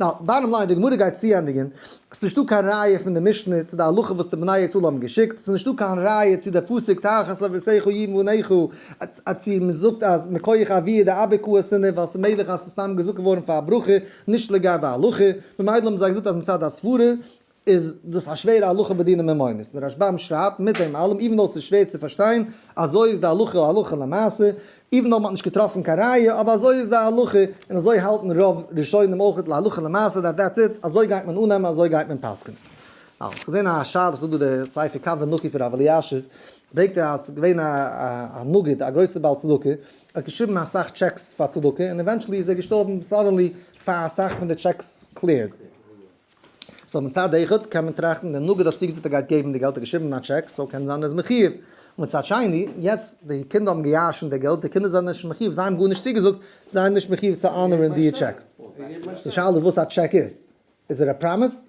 ווייל, באטטאם ליין, די גמרא גייט צוענדיגען, ס'איז נישטא קיין ראיה פון די משנה צו די הלכה וואס די בני ישראל האבן געשיקט, ס'איז נישטא קיין ראיה צו די פסוק תחת אביסיך יבן בניך א צו מ'זאגט אז מכח אביה דאבק הוא השונא ווייל ס'איז מעגליך אז ס'איז סתם געזאגט געווארן פאר א ברכה נישט לגבי הלכה, ממילא האבן זיי געזאגט אז מצד הסברה איז דאס א שווערע הלכה בדיני ממונות, דער רשב ם שרייבט, מיט דעם אלעם, איווען דאו עס איז שווער צו פארשטיין, אזוי איז די הלכה הלכה למעשה, איווען דאו מען האט נישט געטראפן קיין ראיה, אבער אזוי איז די הלכה, און אזוי האלטן רוב ראשונים אויך להלכה למעשה דעט דעטס איט, אזוי גייט מען אננעמען אזוי גייט מען פסק'נען. אה, כ'האב געזען א שאלה וואס זאגט דא דער ספר קו ונקי פון ר' אלישיב, ברענגט ער אז ס'איז געווען א א נגיד א גרויסע בעל צדקה, ער האט געשריבן אסאך טשעקס פאר צדקה, און עווענטשעלי איז ער געשטארבן סאדענלי פאר אסאך פון די טשעקס קליערד. סאו מצד אחד קען מען טראכטן די נגיד האט צוגעזאגט ער גייט געבן די געלט ער האט געשריבן א טשעק סאו קען זיין ער איז מחיוב און מצד שני יעצט די קינדער האבן געיאשן די געלט די קינדער זענען נישט מחיוב זיי האבן גארנישט צוגעזאגט זיי זענען נישט מחיוב צו אנערן די טשעק די שאלה איז וואס א טשעק איז איז ער א פראמיס?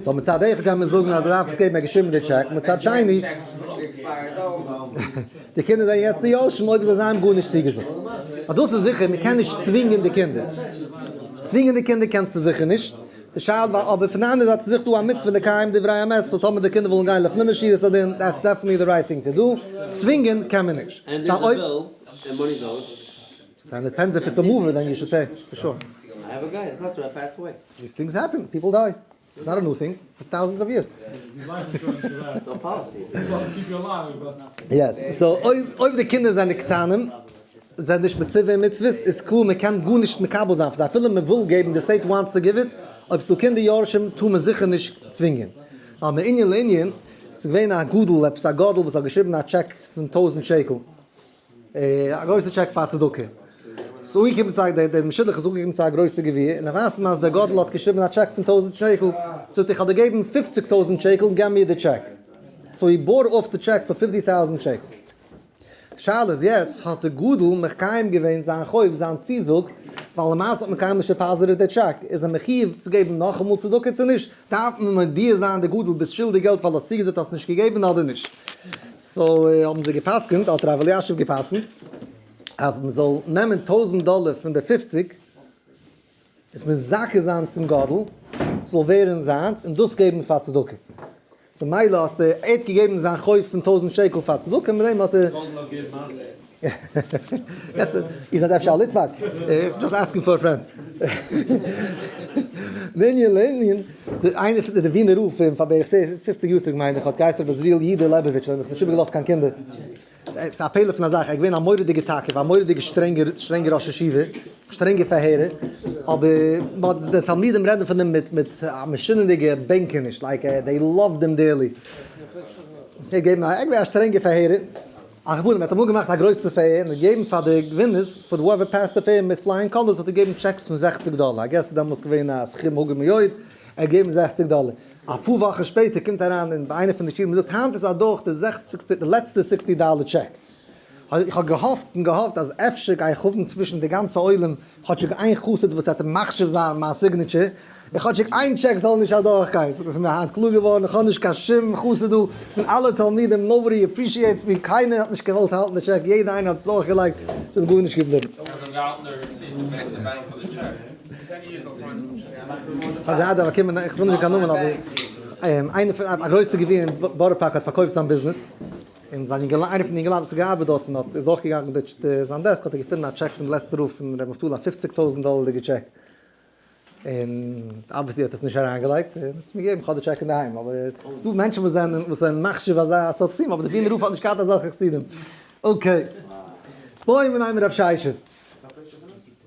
סאו מצד אחד קען מען זאגן אז ער דארף עס געבן ער האט געשריבן די טשעק, מצד שני די קינדער זענען יעצט די יורשים אויב זיי זיין גארנישט צוגעזאגט. דאס איז זיכער מען קען נישט צווינגען די קינדער, צווינגען די קינדער קענסטו זיכער נישט, די שאל ווייל אבער פון די אנדערע זייט איז זיך דא א מצוה לקיים דברי אמת סאו טאמער די קינדער ווילן גיין לפנים משירת הדין דעטס דעפענטלי די רייט טינג טו דו, צווינגען קען מען נישט. דיינע פענזעפעטס אר מאווער דען יו שוד פעי, פאר שור. דיס טינגס העפען, פיפל דיי, איטס נאט א ניו טינג, פאר טאוזענדס אוו יערס. יעס, סאו אויב די קינדער זענען קטנים, זענען נישט מצווה אין מצוות, איז קלאר מען קען גארנישט מקבל זיין פון זיי, אפילו מען וויל געבן, די סטעיט וואנטס טו גיוו איט, אויב ס'איז דא קינדער יורשים טאר מען זיכער נישט צווינגען. ווייל מענין לענין, ס'איז געווען א גדול, עפעס א גדול וואס האט געשריבן א טשעק פון טויזענט שקל, א גרויסע טשעק פאר צדקה. ס'איז אנגעקומען צו א, דעם שידוך איז אנגעקומען צו א גרויסע גביר, און ער ווייזט אים אז דער גדול האט געשריבן א טשעק פון טויזנט שקל, זאגט ער איך האב דיר געגעבן פופציג טויזנט שקל, געב מיר די טשעק. סאו הי בארט אףף די טשעק פאר פיפטי טאוזענט שקל. די שאלה איז יעצט, האט דער גדול מקיים געווען זיין חוב, זיין צוזאג, ווייל למעשה האט מען קיינמאל נישט דעפאזיטעד די טשעק, איז ער מחיוב צו געבן נאכאמאל צדקה צו נישט, דארף מען מודיע זיין די גדול ביסט שולדיג געלט ווייל האסט צוגעזאגט האסט נישט געגעבן אדער נישט. סאו האבן זיי געפסקנט האט ר' אלישיב געפסקנט אז מען זאל נעמען טויזענט דאלער פון די פופציג עס מזכה זיין צום גדול ס'זאל ווערן זיינס און דאס געבן פאר צדקה ממילא האסטו ער האט געגעבן זיין חוב פון טויזענט שקל פאר צדקה מיט דעם האט ער איר זענט אפשר א ליטוואק? דזשאסט אסקינג פאר א פרענד. מענין לענין, איינער פון די ווינער רב פון פאר בערך פופציג יאר צוריק מיין איך האט געהייסן רבי זריעל יודא לעבאוויטש און האט מיך נישט איבער געלאזט קיין קינדער. ס'איז א פלא פון א זאך, ער איז געווען א מורא'דיגער תקף, א מורא'דיגער שטרענגער שטרענגער ראש ישיבה, שטרענגע פארהערער, אבער מ'האט די תלמידים רעדן פון אים מיט מיט א משונה'דיגע בענקעניש, לייק דעי לאווד אים דערלי. ער איז געווען א שטרענגער פארהערער. א רבנים האט אמאל געמאכט א גרויסע פעיר און געגעבן פאר די גווינערס פאר וואויווער פעסט די פעיר מיט פלייאינג קאלערס האט ער געגעבן טשעקס פון זעכציג דאלער איי געס דעמאלס געווען א סכום הוגה מאוד ער האט געגעבן זעכציג דאלער אפאר וואכן שפעטער קומט אריין אין ביי איינע פון די שיעורים און זאגט היינט איז אדורך די זעכציגסטע די לעצטע סיקסטי דאלער טשעק איך האב געהאפט און געהאפט אז אפשר גיי איך האבן צווישן די גאנצע עולם כאטשיג איין חסיד וואס האט מחשיב זיין מיין סיגניטשער, און כאטשיג איין טשעק זאל נישט אדורך גיין, ס'איז מיר היינט קלאר געווארן איך האב נישט קיין שום חסיד דא, פון אלע תלמידים נאובאדי עפרישיעטס מי, קיינער האט נישט געוואלט האלטן די טשעק, יעדער איינער האט עס אדורך געלייגט, ס'איז גארנישט געבליבן. און זיין יונגעלע איינער פון די יונגעלייט וואס האט געארבעט דארטן האט איז אויך געגאנגען דארט צו זיין דעסק האט ער געפונען א טשעק פון די לעצטע רוף פון ר' נפתלי א פופציג טויזנט דאלערדיגע טשעק און אבוויעסלי האט ער עס נישט אריינגעלייגט און האט עס מיר געגעבן כ'האב די טשעק אינדערהיים אבער עס דא מענטשן וואס זענען וואס זענען מחשיב אזא סארט חסידים אבער די ווינער רוף האט נישט געהאט אזעלכע חסידים אקעי בואו מיר נייען רב שש'ס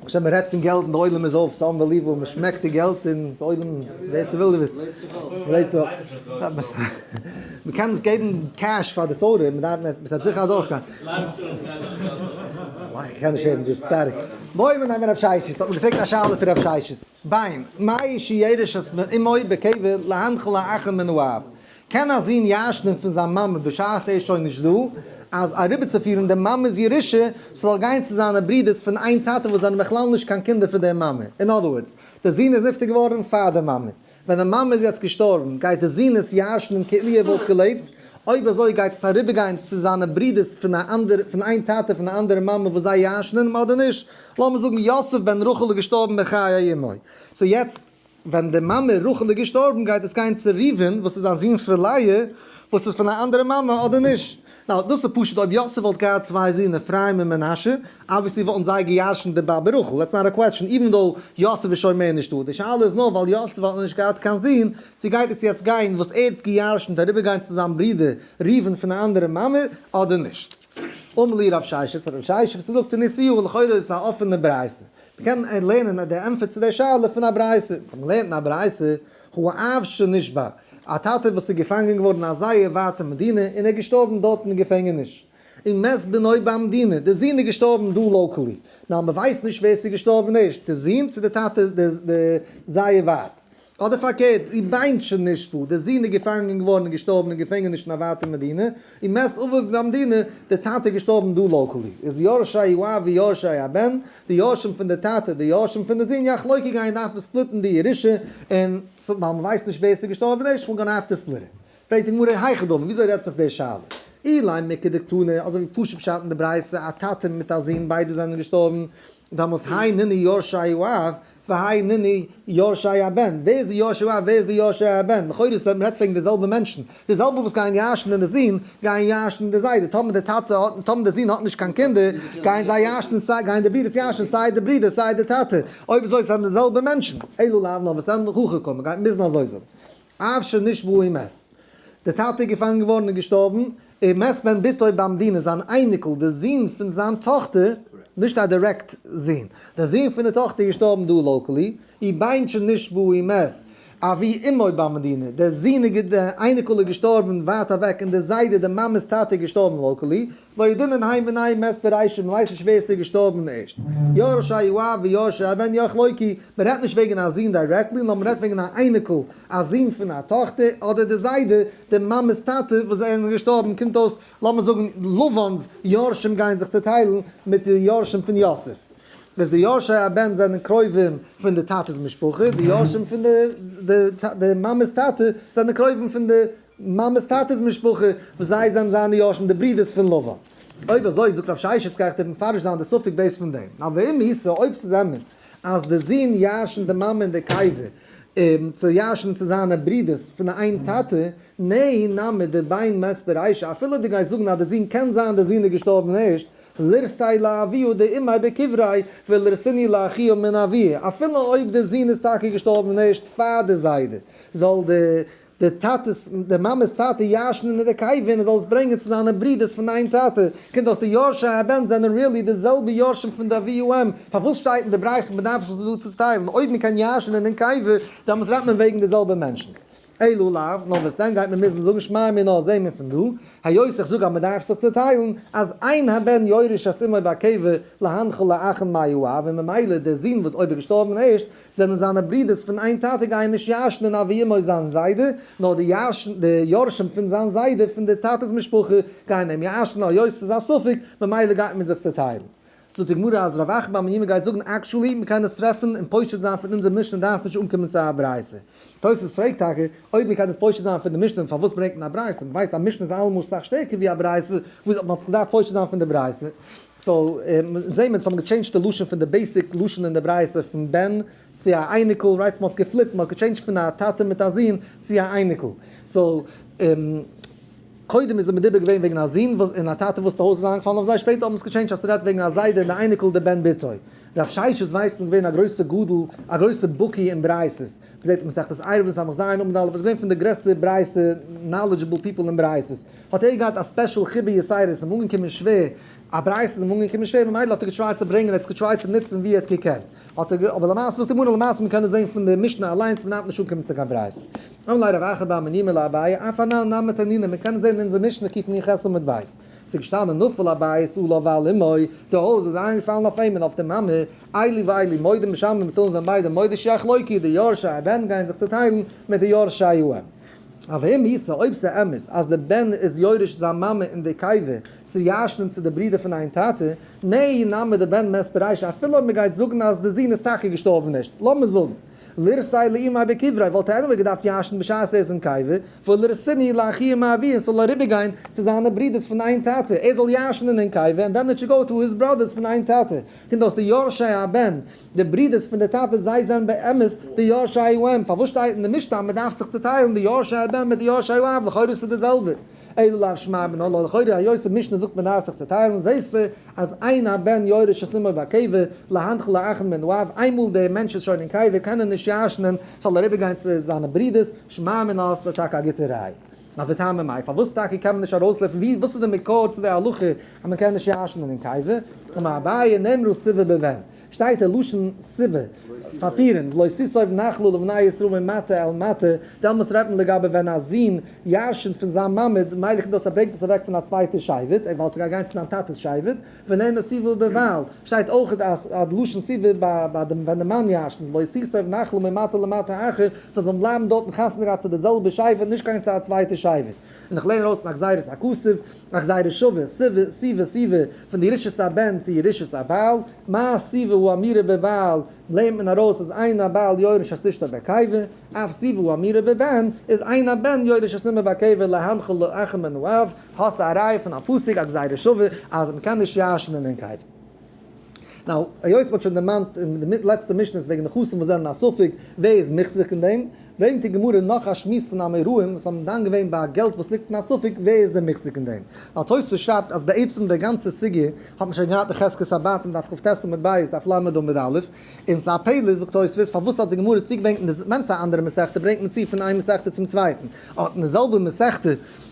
כאטשע מען רעדט פון געלט און די עולם איז אויף, ס'איז אנבעליוועבל, מען שמעקט די געלט און די עולם ווערט צעווילדעוועט, מ'לעבט זיך אפ, מען קען נישט געבן קעש פאר די סעודה, מען דארף, מען האט זיכער אדורכגיין. איך קען נישט הערן, דאס איז שטארק. בואי מיר נעמען רב ששי, ס'האט מיר געפרעגט א שאלה פון רב ששי, ביין, מאי שיערש אז מען אימוי בקבר להנח לאחר מנוחת, קען א זון ירש'נען פון זיין מאמע בשעת ער איז שוין נישט דא, אז אריבערצופירן די מאמע'ס ירושה ס'זאל גיין צו זיינע ברידער'ס פון איין טאטע וואס זענען בכלל נישט קיין קינדער פון די מאמע? אין אדער ווארדס, די זון איז נפטר געווארן פאר די מאמע, ווען די מאמע איז יעצט געשטארבן גייט די זון עס ירש'נען כאילו ער וואלט געלעבט? אויב אזוי גייט עס אריבערגיין צו זיינע ברידער'ס פון א אנדערע פון איין טאטע פון א אנדערע מאמע וואס זיי ירש'נען אים אדער נישט? לאמיר זאגן יוסף בן רחל איז געשטארבן בחיי אמו, סאו יעצט ווען די מאמע רחל איז געשטארבן גייט עס גיין צו ראובן וואס איז א זון פון לאה וואס איז פון א אנדערע מאמע אדער נישט? נאו, דאס איז פשוט אויב יוסף וואלט געהאט צוויי זין אפרים און מנשה, אבוויעסלי וואלטן זיי געירשנט די באבע רחל, דעטס נאט א קוועסטשן, איווען דאו יוסף איז שוין מער נישטא, די שאלה איז נאר ווייל יוסף האט נישט געהאט קיין זין, צו גייט עס יעצט גיין וואס ער האט געירשנט אריבערגיין צו זיין ברודער ראובן פון א אנדערע מאמע אדער נישט? אמר לי רב ששת, פון רב ששת וואס ער זאגט אין איסור וואס לכאורה איז עס א אפענע ברייתא. מ'קען לערנען די ענטפער צו די שאלה פון א ברייתא. צו מ'לערנט אין א ברייתא, הוא האב שנשבה, א טאטע וואס איז געפאנגען געווארן אין א זייער ווייטע מדינה און ער איז געשטארבן דארט אין די געפענגעניש. און מת בנו במדינה, דער זון איז געשטארבן דא לאקעלי. נאר מ'ווייסט נישט ווער ס'איז געשטארבן ערשט, דער זון צו דער טאטע, דער זייער ווייט. אדער פארקערט, איר ביינט שוין נישט פאר, דער זון איז געפאנגען געווארן און געשטארבן אין געפענגעניש אין א ווייטע מדינה, און מעש אביו ביים מדינה, דער טאטע איז געשטארבן דא לאקאלי, איז יורשי האב ויורשי הבן, די יורשים פון די טאטע, די יורשים פון די זון, יא חלוקה גייען דארפן ספליטן די ירושה, און ווייל מען ווייסט נישט ווער עס איז געשטארבן אין ערשט מאל גאנע האפטע ספליט. פרעגט די גמרא היכי דמי, וויאזוי רעדט זיך די שאלה? אילאי מיכי דקתני, אזוי ווי פשוט פשט אין די ברייתא, א טאטע מיט א זון ביידע זענען געשטארבן, דאמאלס היי נני יורשי האב, והאי ניני יורשי הבן, ווער איז די יורש און ווער איז די יורשי הבן, לכאורה איז עס ווען מען רעדט וועגן די זעלבע מענטשן, די זעלבע וואס גייען ירש'ן אין די זון גייען ירש'ן אין די זיידע, טאמער די טאטע האט, טאמער די זון האט נישט קיין קינדער גייען זיי ירש'ן סיי גייען די ברודערס ירש'ן סיי די ברודער סיי די טאטע, אויב אזוי זענען די זעלבע מענטשן, אלא לאו נאר וואס ענדליך הוכחה קאן מען גייט מוזן אזוי זאגן. אפֿשר נישט װוּ אים ס. דער טאַטע איז געפֿאַנגען געװאָרן און געשטאָרבן, און ם ס בן בתו בן דינה, זײַן אײניקל, דער זון פֿון זײַן טאָכטער, נישט אַ דירעקט זון, דער זון פֿון דער טאָכטער, געשטאָרבן דאָ, לאָקאַלי, אי בענטשן נישט װוּ אים ס. אַבי אמו בן מדינה, דער זון איז גע דער אײניקל איז געשטאָרבן װײַט אַװעק, און דער זײדע, דער מאַמעס טאַטע, איז געשטאָרבן, לאָקאַלי, לא יודעין אין היי מנין מת בראשית, מען ווייסט נישט ווער ס'איז געשטארבן ערשט, יורש א י א ו יורש א י בן יח לויקי, מען רעדט נישט וועגן א זון דירעקטלי, נאר מען רעדט וועגן א אייניקל, א זון פון א טאכטער, אדער די זיידע, די מאמע'ס טאטע, וואס זיי זענען געשטארבן, קומט אויס, לאמיר זאגן, לבן'ס יורשים גייען זיך צוטיילן מיט די יורשים פון יוסף, איז די יורש א י בן זענען קרובים פון די טאטע'ס משפחה, די יורשים פון די מאמע'ס טאטע זענען קרובים פון די. מאמעס טאטעס משפחה, וואס זיי זענען זיינע יורשים, די ברידערס פון לבן. אויב אזוי, זאגט רב ששת קרח טוט מפרש זיין די ספק בעת פון דעם. נא ואם היסה, אויב ס'איז אמת אז די זון ירשנ'ט די מאמע און די קיבה צו ירשנ'ען צו זיינע ברידערס פון די איין טאטע, נהי נמי דבין מת ברישה, אפילו דו גייסט זאגן אז די זון קען זיין די זון איז געשטארבן ערשט, לרסי לאביו דאימי בקברי ולרסיני לאחיו מן אביו, אפילו אויב די זון איז טאקע געשטארבן ערשט פאר די זיידע, זאל די. דער טאטע'ס דער מאמע'ס טאטע ישן אין דער קעיווען ער זאל עס ברענגען צו זיינע ברידערס פון דיין טאטע. קינד האסט די יורשי הבן זענען ריעלי די זעלבע יורשים פון די אבי האם? פארוואס שטייט אין די בריית'ס מ'דארף זיך דא צוטיילן? אויב מ'קען ישן אין דעם קעיווען דעמאלס רעדט מען וועגן די זעלבע מענטשן. אלא לאו, נאר וואס דען גייט מען מוזן זאגן שמע מיר נאר זעה מיר פון דא, היות איך זאג אז מ'דארף זיך צוטיילן, אז אין הבן יורש את אמו בעקיבא להנחה לאחן מיו אב און ממילא דער זון וואס אויב איז געשטארבן ערשט, זענען זיינע ברודערס פון איין טאטע גייען נישט ירש'ן אין אבי אמו זיין זיידע, נאר די ירש'ן די יורשים פון זיין זיידע פון די טאטע'ס משפחה גייען אים ירש'ן, היות ס'איז א ספק, ממילא גייט מען זיך צעטיילן. זאגט די גמרא אז רב אחא בר מימא גייט זאגן עקשועלי מ'קען עס טרעפן און פושט זיין פון אונזער משנה דארף נישט אנקומען צו א ברייתא. תוספות פרעגט טאקע אויב מ'קען עס פושט זיין פון די משנה פארוואס ברענגט מען א ברייתא, מ'ווייסט א משנה איז אלעמאל סאך שטערקער ווי א ברייתא, וואו האט מען עס געדארפט פושט זיין פון די ברייתא? סאו זעהן מיר, ס'האט מען געטשעינדזשט די לשון פון די בעיסיק לשון אין די ברייתא פון בן צו א אייניקל, רייט? ס'מהאט עס געפליפט, מ'האט געטשעינדזשט פון א טאטע מיט א זון צו א אייניקל. סאו קודם איז די מדובר געווען וועגן א זון וואס און א טאטע וואס די הויז איז איינגעפאלן אויף זיי, שפעטער האט מען עס געטשעינדזשט אז ס'רעדט וועגן א זיידע און די אייניקל די בן בתו. רב שש איז ווייסמען געווען א גרויסע גדול, א גרויסע בקי אין ברייתות. מען זעט אין מסכת עירובין סמ ז עמוד ד, וואס איז געווען פון די גרעסטע ברייתא נאלעדזשעבל פיפל אין ברייתות, האט ער געהאט א ספעשל חיבה יסיירא, עס איז אים אנגעקומען שווער, א ברייתא איז אים אנגעקומען שווער, ממילא האט ער געטרייט צו ברענגען, ער האט עס געטרייט צו נוצן ווי ער האט געקענט, האט ער אבער למעשה זאגט די גמרא למעשה מען קען עס זען פון די משנה אליינס מען דארף נישט אנקומען צו קיין ברייתא, אמר ליה רב אחא באמר נימא לאביי אף הנ ל נמי תנינא, מען קען עס זען אין אונזער משנה קיף נ ח עמוד ב', עס איז געשטאנען נפל הבית עליו ועל אמו, די הויז איז אריינגעפאלן אויף אים און אויף די מאמע, איילי ואיילי מודים משמים ס'זאלן זיין ביידע מודי שיח לויקיע די יורשי הבן גייען זיך צוטיילן מיט די יורשי האם אב אם איסא אויב ס'אמת אז די בן איז יורש זיין מאמע אין די קייווע צו ירשנען צו די ברידער פון איין טאטע נעי נאמר די בן מעסט בראש אפילו אויב מ'גייט זאגן אז די זון איז טאקע געשטארבן נישט לאמיר זאגן לרסי לאימי בקברי וואלט ער עניוועי געדארפט ירשנען בשעת ער איז אין קייווע ולרסיני לאחי מאבי און ס'זאל אריבערגיין צו זיינע ברידערס פון איין טאטע ער זאל ירשנען אין קייווע ענד דען איט שוד גאו טו היז בראדערס פון איין טאטע פון דאס די יורשי הבן, די ברודערס פון די טאטע, זיי זענען באמת די יורשי האם, פארוואס שטייט אין די משנה אז מען דארף זיך צוטיילן די יורשי הבן מיט די יורשי האב, לכאורה איז עס די זעלבע, אילו לאו שמיה מן הלא, לכאורה היות אין משנה זאגט מען דארף זיך צוטיילן, זעסטו אז איין א בן יורש את אמו בקיבה, להנח לאחד מן האב, איינמאל דער מענטש איז שוין אין קיבה קען ער נישט ירש'נען, זאל ער איבערגיין צו זיינע ברודערס, שמיה מן האסטו טאקע א גוטע ראי'. נאר די טעמים מאי, פארוואס טאקע קען מען נישט ארויסלופטן, ווי, וואס איז די מקור צו די הלכה אז מען קען נישט ישנ'ן אין קיבה, אמר אביי נאמרו סיבה בבן, שטייט די לשון סיבה, פארפירן, ולא סיסוב נחלו לבני ישראל ממטה אל מטה, דעלמאס רעדט מען לגבי ווען א זון ישנ'ט פון זיין מעמד, מילא כדי עס ברענגט עס אוועק פון א צווייטע שבט, ווייל עס גייט גיין צו זיין טאטע'ס שבט. ונענה סיבוב בערווייל שטייט אויך אז די לשון סיבוב ביי דעם ווען די מאן ישן לא יסיסב נחלו ממטה למטה אחר זיי זאלן בלייבן דארטן חתונה געהאט צו די זעלבע שייווער נישט גיין צו א צווייטע שייווער און איך לערן ארויס פון א גזירת הכסף א גזירה שווה סיבה סיבה סיבה פון די ירושות הבן צו ירושות הבעל מה הסיבה הוא אמירה בערווייל לערנט מען ארויס אז אין הבעל יורש את אשתו בעקיבא אף סיבה הוא אמירה בבן איז אין הבן יורש את אמו בעקיבא להנחיל לו אחר מנעוריו האסט א ראיה פון א פסוק א גזירה שווה אז מ'קען נישט ישנ'ן אין קבר? נאו, היות מ'האט שוין דערמאנט אין די לעצטע משניות וועגן נחשים וואס זענען א ספק, ווער איז מחזיק אין דעם? ברענגט די גמרא נאך א שמועס פון אמוראים וואס האבן דן געווען ביי א געלט וואס ליגט אין א ספק, ווער איז דער מחזיק אין דעם? ווייל תוספות שרייבט אז בעצם די גאנצע סוגיא האט מען שוין געהאט אין חזקת אבות אין דף כט עמוד בית, דף ל' עמוד א', און ס'איז א פלא זאגט תוספות פארוואס האט די גמרא צוגעברענגט, ווען ס'איז א אנדערע מסכתא ברענגט מען צו פון איין מסכתא צום צווייטן, אט אין די זעלבע מסכתא,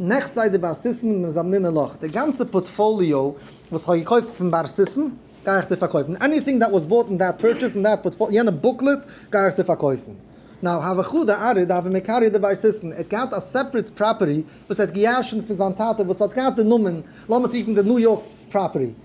נעכסט זיי די בר סיסען מיט דעם זאמנינע לאך, די גאנצע פארטפאליאו וואס כ'האב געקויפט פון בר סיסען גיי איך דיר פארקויפן, עניטינג דעט וואס באוט אין דעט פורטשעס אין דעט פארטפאליאו, יענע בוקלעט גיי איך דיר פארקויפן. נאו האו וכו' די ארי די האבי מקארי די בר סיסען, ער האט געהאט א סעפרעט פראפערטי וואס ער האט געירשנט פון זיין טאטע וואס האט געהאט די נאמען, לאמיר עס רופן די ניו יארק פראפערטי,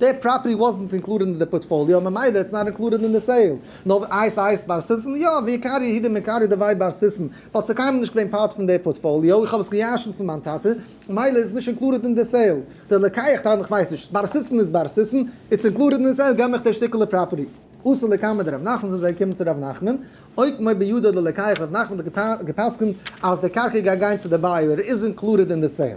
די פראפערטי וואזנט אינקלודעד אין די פארטפאליאו ממילא איטס נאט אינקלודעד אין די סעיל. נאר אייס אייס בר סיסן יא, ווי עיקר יהודים עיקר יודעוועי בר סיסן, באט ס'איז קיינמאל נישט געווען פארט פון די פארטפאליאו, איך האב עס געירשנט פון מיין טאטע, ממילא איז עס נישט אינקלודעד אין די סעיל. די לקיח טענה'ט איך ווייס נישט, בר סיסן איז בר סיסן, איטס אינקלודעד אין סעיל געב מיך די שטיקעלע פראפערטי. עשה לקמא דרב נחמן זאל זיי קומען צו רב נחמן, אויט מויד בידו ללקיח רב נחמן האט געפסקנט אז די קרקע גייט גיין צו די בייער, ער איז אינקלודעד אין די סעיל.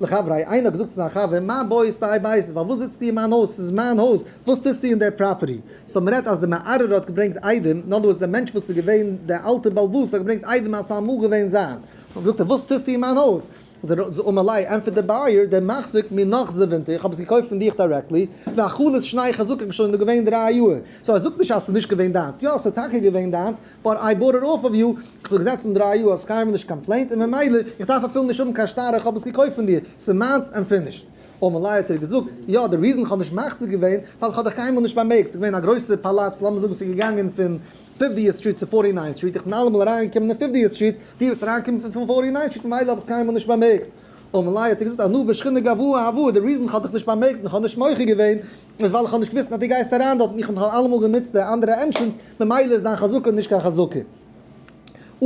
לחברי, איינער האט געזאגט צו זיין חבר, מיין בית ביי בית, פארוואס זיצטו אין מיין הויז, ס'איז מיין הויז, וואס טוסטו אין דער פראפערטי? סאו מען רעדט אז דער מערערער האט געברענגט איידעם, אין אנדער ווארט דער מענטש וואס איז געווען דער אלטער בעלבאס האט געברענגט איידעם אז ס'אמאל געווען זיינס, און זאגט ער וואס טוסטו אין מיין הויז? זאג אמאל איי, ענטפערט דער בייער, דער מחזיק מיר נאך זיי ווינטער, איך האב עס געקויפט פון דיך דירעקטלי, ואכלת שניך זאג איך בין שוין דא געווען דריי יאר, סאו ער זאגט נישט אז ס'איז נישט געווען דיינס, יא ס'איז טאקע געווען דיינס, באט איי באוט איט אףף אוו יו, איך האב געזעצן דריי יאר, האסט קיינמאל נישט קאמפלעינט, און ממילא איך דארף אפילו נישט האבן קיין שטר איך האב עס געקויפט פון דיר, ס'איז מיינס ענד פינישד. און מלאי האט ער געזאגט, יא די ריזן איך האב נישט מחזיר געווען, ווייל איך האב דיך קיינמאל נישט באמערקט, ס'איז געווען א גרויסער פאלאץ, לאמיר זאגן ס'איז געגאנגען פון פיפדיעסט סטריט צו פארטי ניינט סטריט, איך בין אלעמאל אריינגעקומען אין פיפדיעסט סטריט, דו ביסט אריינגעקומען פון פון פארטי ניינט סטריט ממילא האב איך קיינמאל נישט באמערקט. און מלאי האט ער געזאגט, אנא בשכינה גבוה הוו, די ריזן איך האב דיך נישט באמערקט און איך האב נישט מוחה געווען, איז ווייל איך האב נישט געוויסט אז דו גייסט אריין דארט און איך האב אלעמאל גענוצט די אנדערע ענטרענס, ממילא איז דיין חזקה נישט קיין חזקה.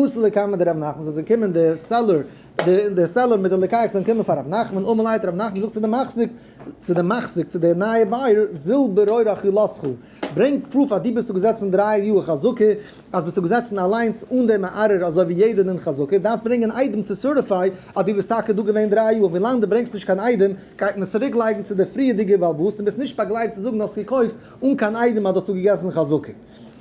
עשה לקיימא דרבי נחמן, זאל זיי קומען די סעלער, די סעלער מיט די ליקייער זאלן קומען פאר רבי נחמן, אמר ליה ת רבי נחמן זאגט צו די מחזיק, צו די מחזיק, צו די נייע בייער, זיל ברויער אכילתך, ברענג פרוף אז דו ביסט דא געזעצן דריי יאר חזקה, אז ביסטו געזעצן אליינס אן דעם מערער אזוי ווי יעדע נין חזקה, דארפסט ברענגען אן איידעם צו סערטיפיי אז דו ביסט טאקע דא געווען דריי יאר, ווילאנג דו ברענגסט נישט קיין איידעם גייט מען עס צוריק לייגן צו די פריערדיגע בעל הבית און ביסט נישט באגלייבט צו זאגן האסט געקויפט אן קיין איידעם אז דו האסט דא געגעסן חזקה.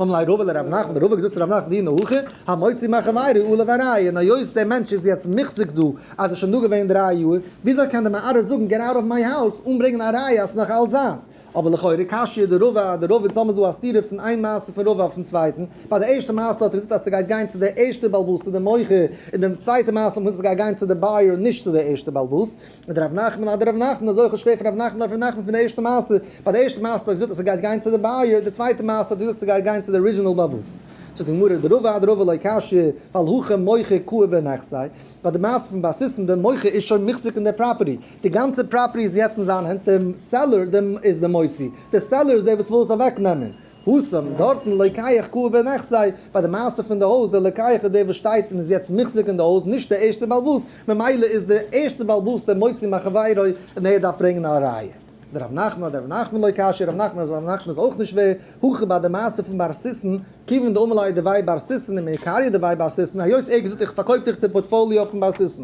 אמר ליה רבא לרב נחמן, רבא האט געזאגט צו רב נחמן והיא נהוכי, המוציא מחברו עלוב א ראיה, און היות דער מענטש איז יעצט מוחזק דא אז ער איז שוין דא געווען דריי יאר, וויאזוי קען דער מערער זאגן געט אוט אוו מיי האוז אן ברענגען א ראיה אז עס איז נאך אלץ זיינס? אבער לכאורה קשיא די רב א די רב אין צום איז דא א סתירה פון איין מעשה פון רב א אויפן צווייטן, ביי די ערשטע מעשה האט ער געזאגט אז ס'גייט גיין צו די ערשטע בעלבאס צו די מוכר, אין די צווייטע מעשה האט מען געזאגט ס'גייט גיין צו די בייער נישט צו די ערשטע בעלבאס, און דער ר' נחמן אדער ר' נחמן איז אויך שווער פון ר' נחמן אדער ר' נחמן פון די ערשטע מעשה, ביי די ערשטע מעשה האט ער געזאגט אז ס'גייט גיין צו די בייער, די צווייטע מעשה האט ער געזאגט ס'גייט גיין צו די ארידזשינעל בעלבאס. זאגט די גמרא די רב א די רב א לא קשיא, ווייל הכא מוכר קוה בנכסיו, ביי די מעשה פון באסיסן די מוכר איז שוין מחזיק אין די פראפערטי, די גאנצע פראפערטי איז יעצט אין זיין הענט, דער סעלער איז דער מוציא, דער סעלער איז דער וואס וויל עס אוועק נעמען, הושם, דארטן, לוקח קעה בין אחסי, ביי די מעשה פון די הויז, דער לוקח איז דער וואס שטייט און איז יעצט מוחזק אין די הויז, נישט דער ערשטער בעל הבית, ממילא איז דער ערשטער בעל הבית דער מוציא מחבירו, און ער דארף ברענגען א ראיה. דער רב נחמן אדער רבי נחמן לוי קשיא, רב נחמן אדער רב נחמן איז אויך נישט ווער, הכי ביי די מעשה פון בר סיסן, כיוון דאמר ליה די ווייב בר סיסן און מעיקריה די ווייב בר סיסן, היות ער האט געזאגט איך פארקויף דיך די פארטפאליאו פון בר סיסן,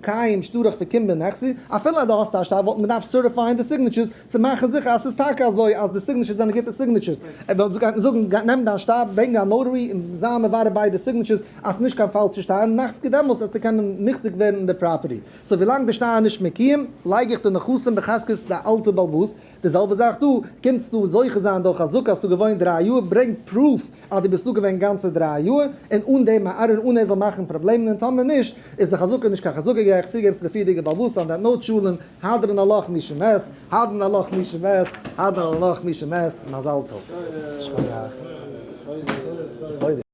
קיים שטראך פון קומבע און עכסי, אפילו אז דו האסט א שטר וואלט מען געדארפט סערטיפייען די סיגניטשערס צו מאכן זיכער אז ס'איז טאקע אזוי אז די סיגניטשערס זענען גוטע סיגניטשערס, און ווען גייט מען זאגן גיי נעם דיין שטר ברענג א נאוטערי און זיי מברר ביידע סיגניטשערס אז ס'נישט קיין פאלשע שטר און נאך פקע דעמאלטס וועסטו קענען מחזיק ווערן אין די פראפערטי, סאו ווילאנג די שטר איז נישט מקויים לייג איך די נכסים בחזקת די אלטע בעלבאס, די זעלבע זאך דא, קענסטו זוכה זיין דורך א זאג האסטו געוואוינט דרײַ יאר, ברענג פרוף אז דו ביסט דא געווען גאנצע דרײַ יאר, און אן דעם א ארון אן ער זאל מאכן פראבלעמען און טאמער נישט איז די חזקה נישט קיין חזקה גיי איך צוגעבן צו די פריערדיגע בעל בתים דעט נאוט שלום האדרן הלך מי שמת האדרן הלך מי שמת האדרן הלך מי שמת מזל טוב.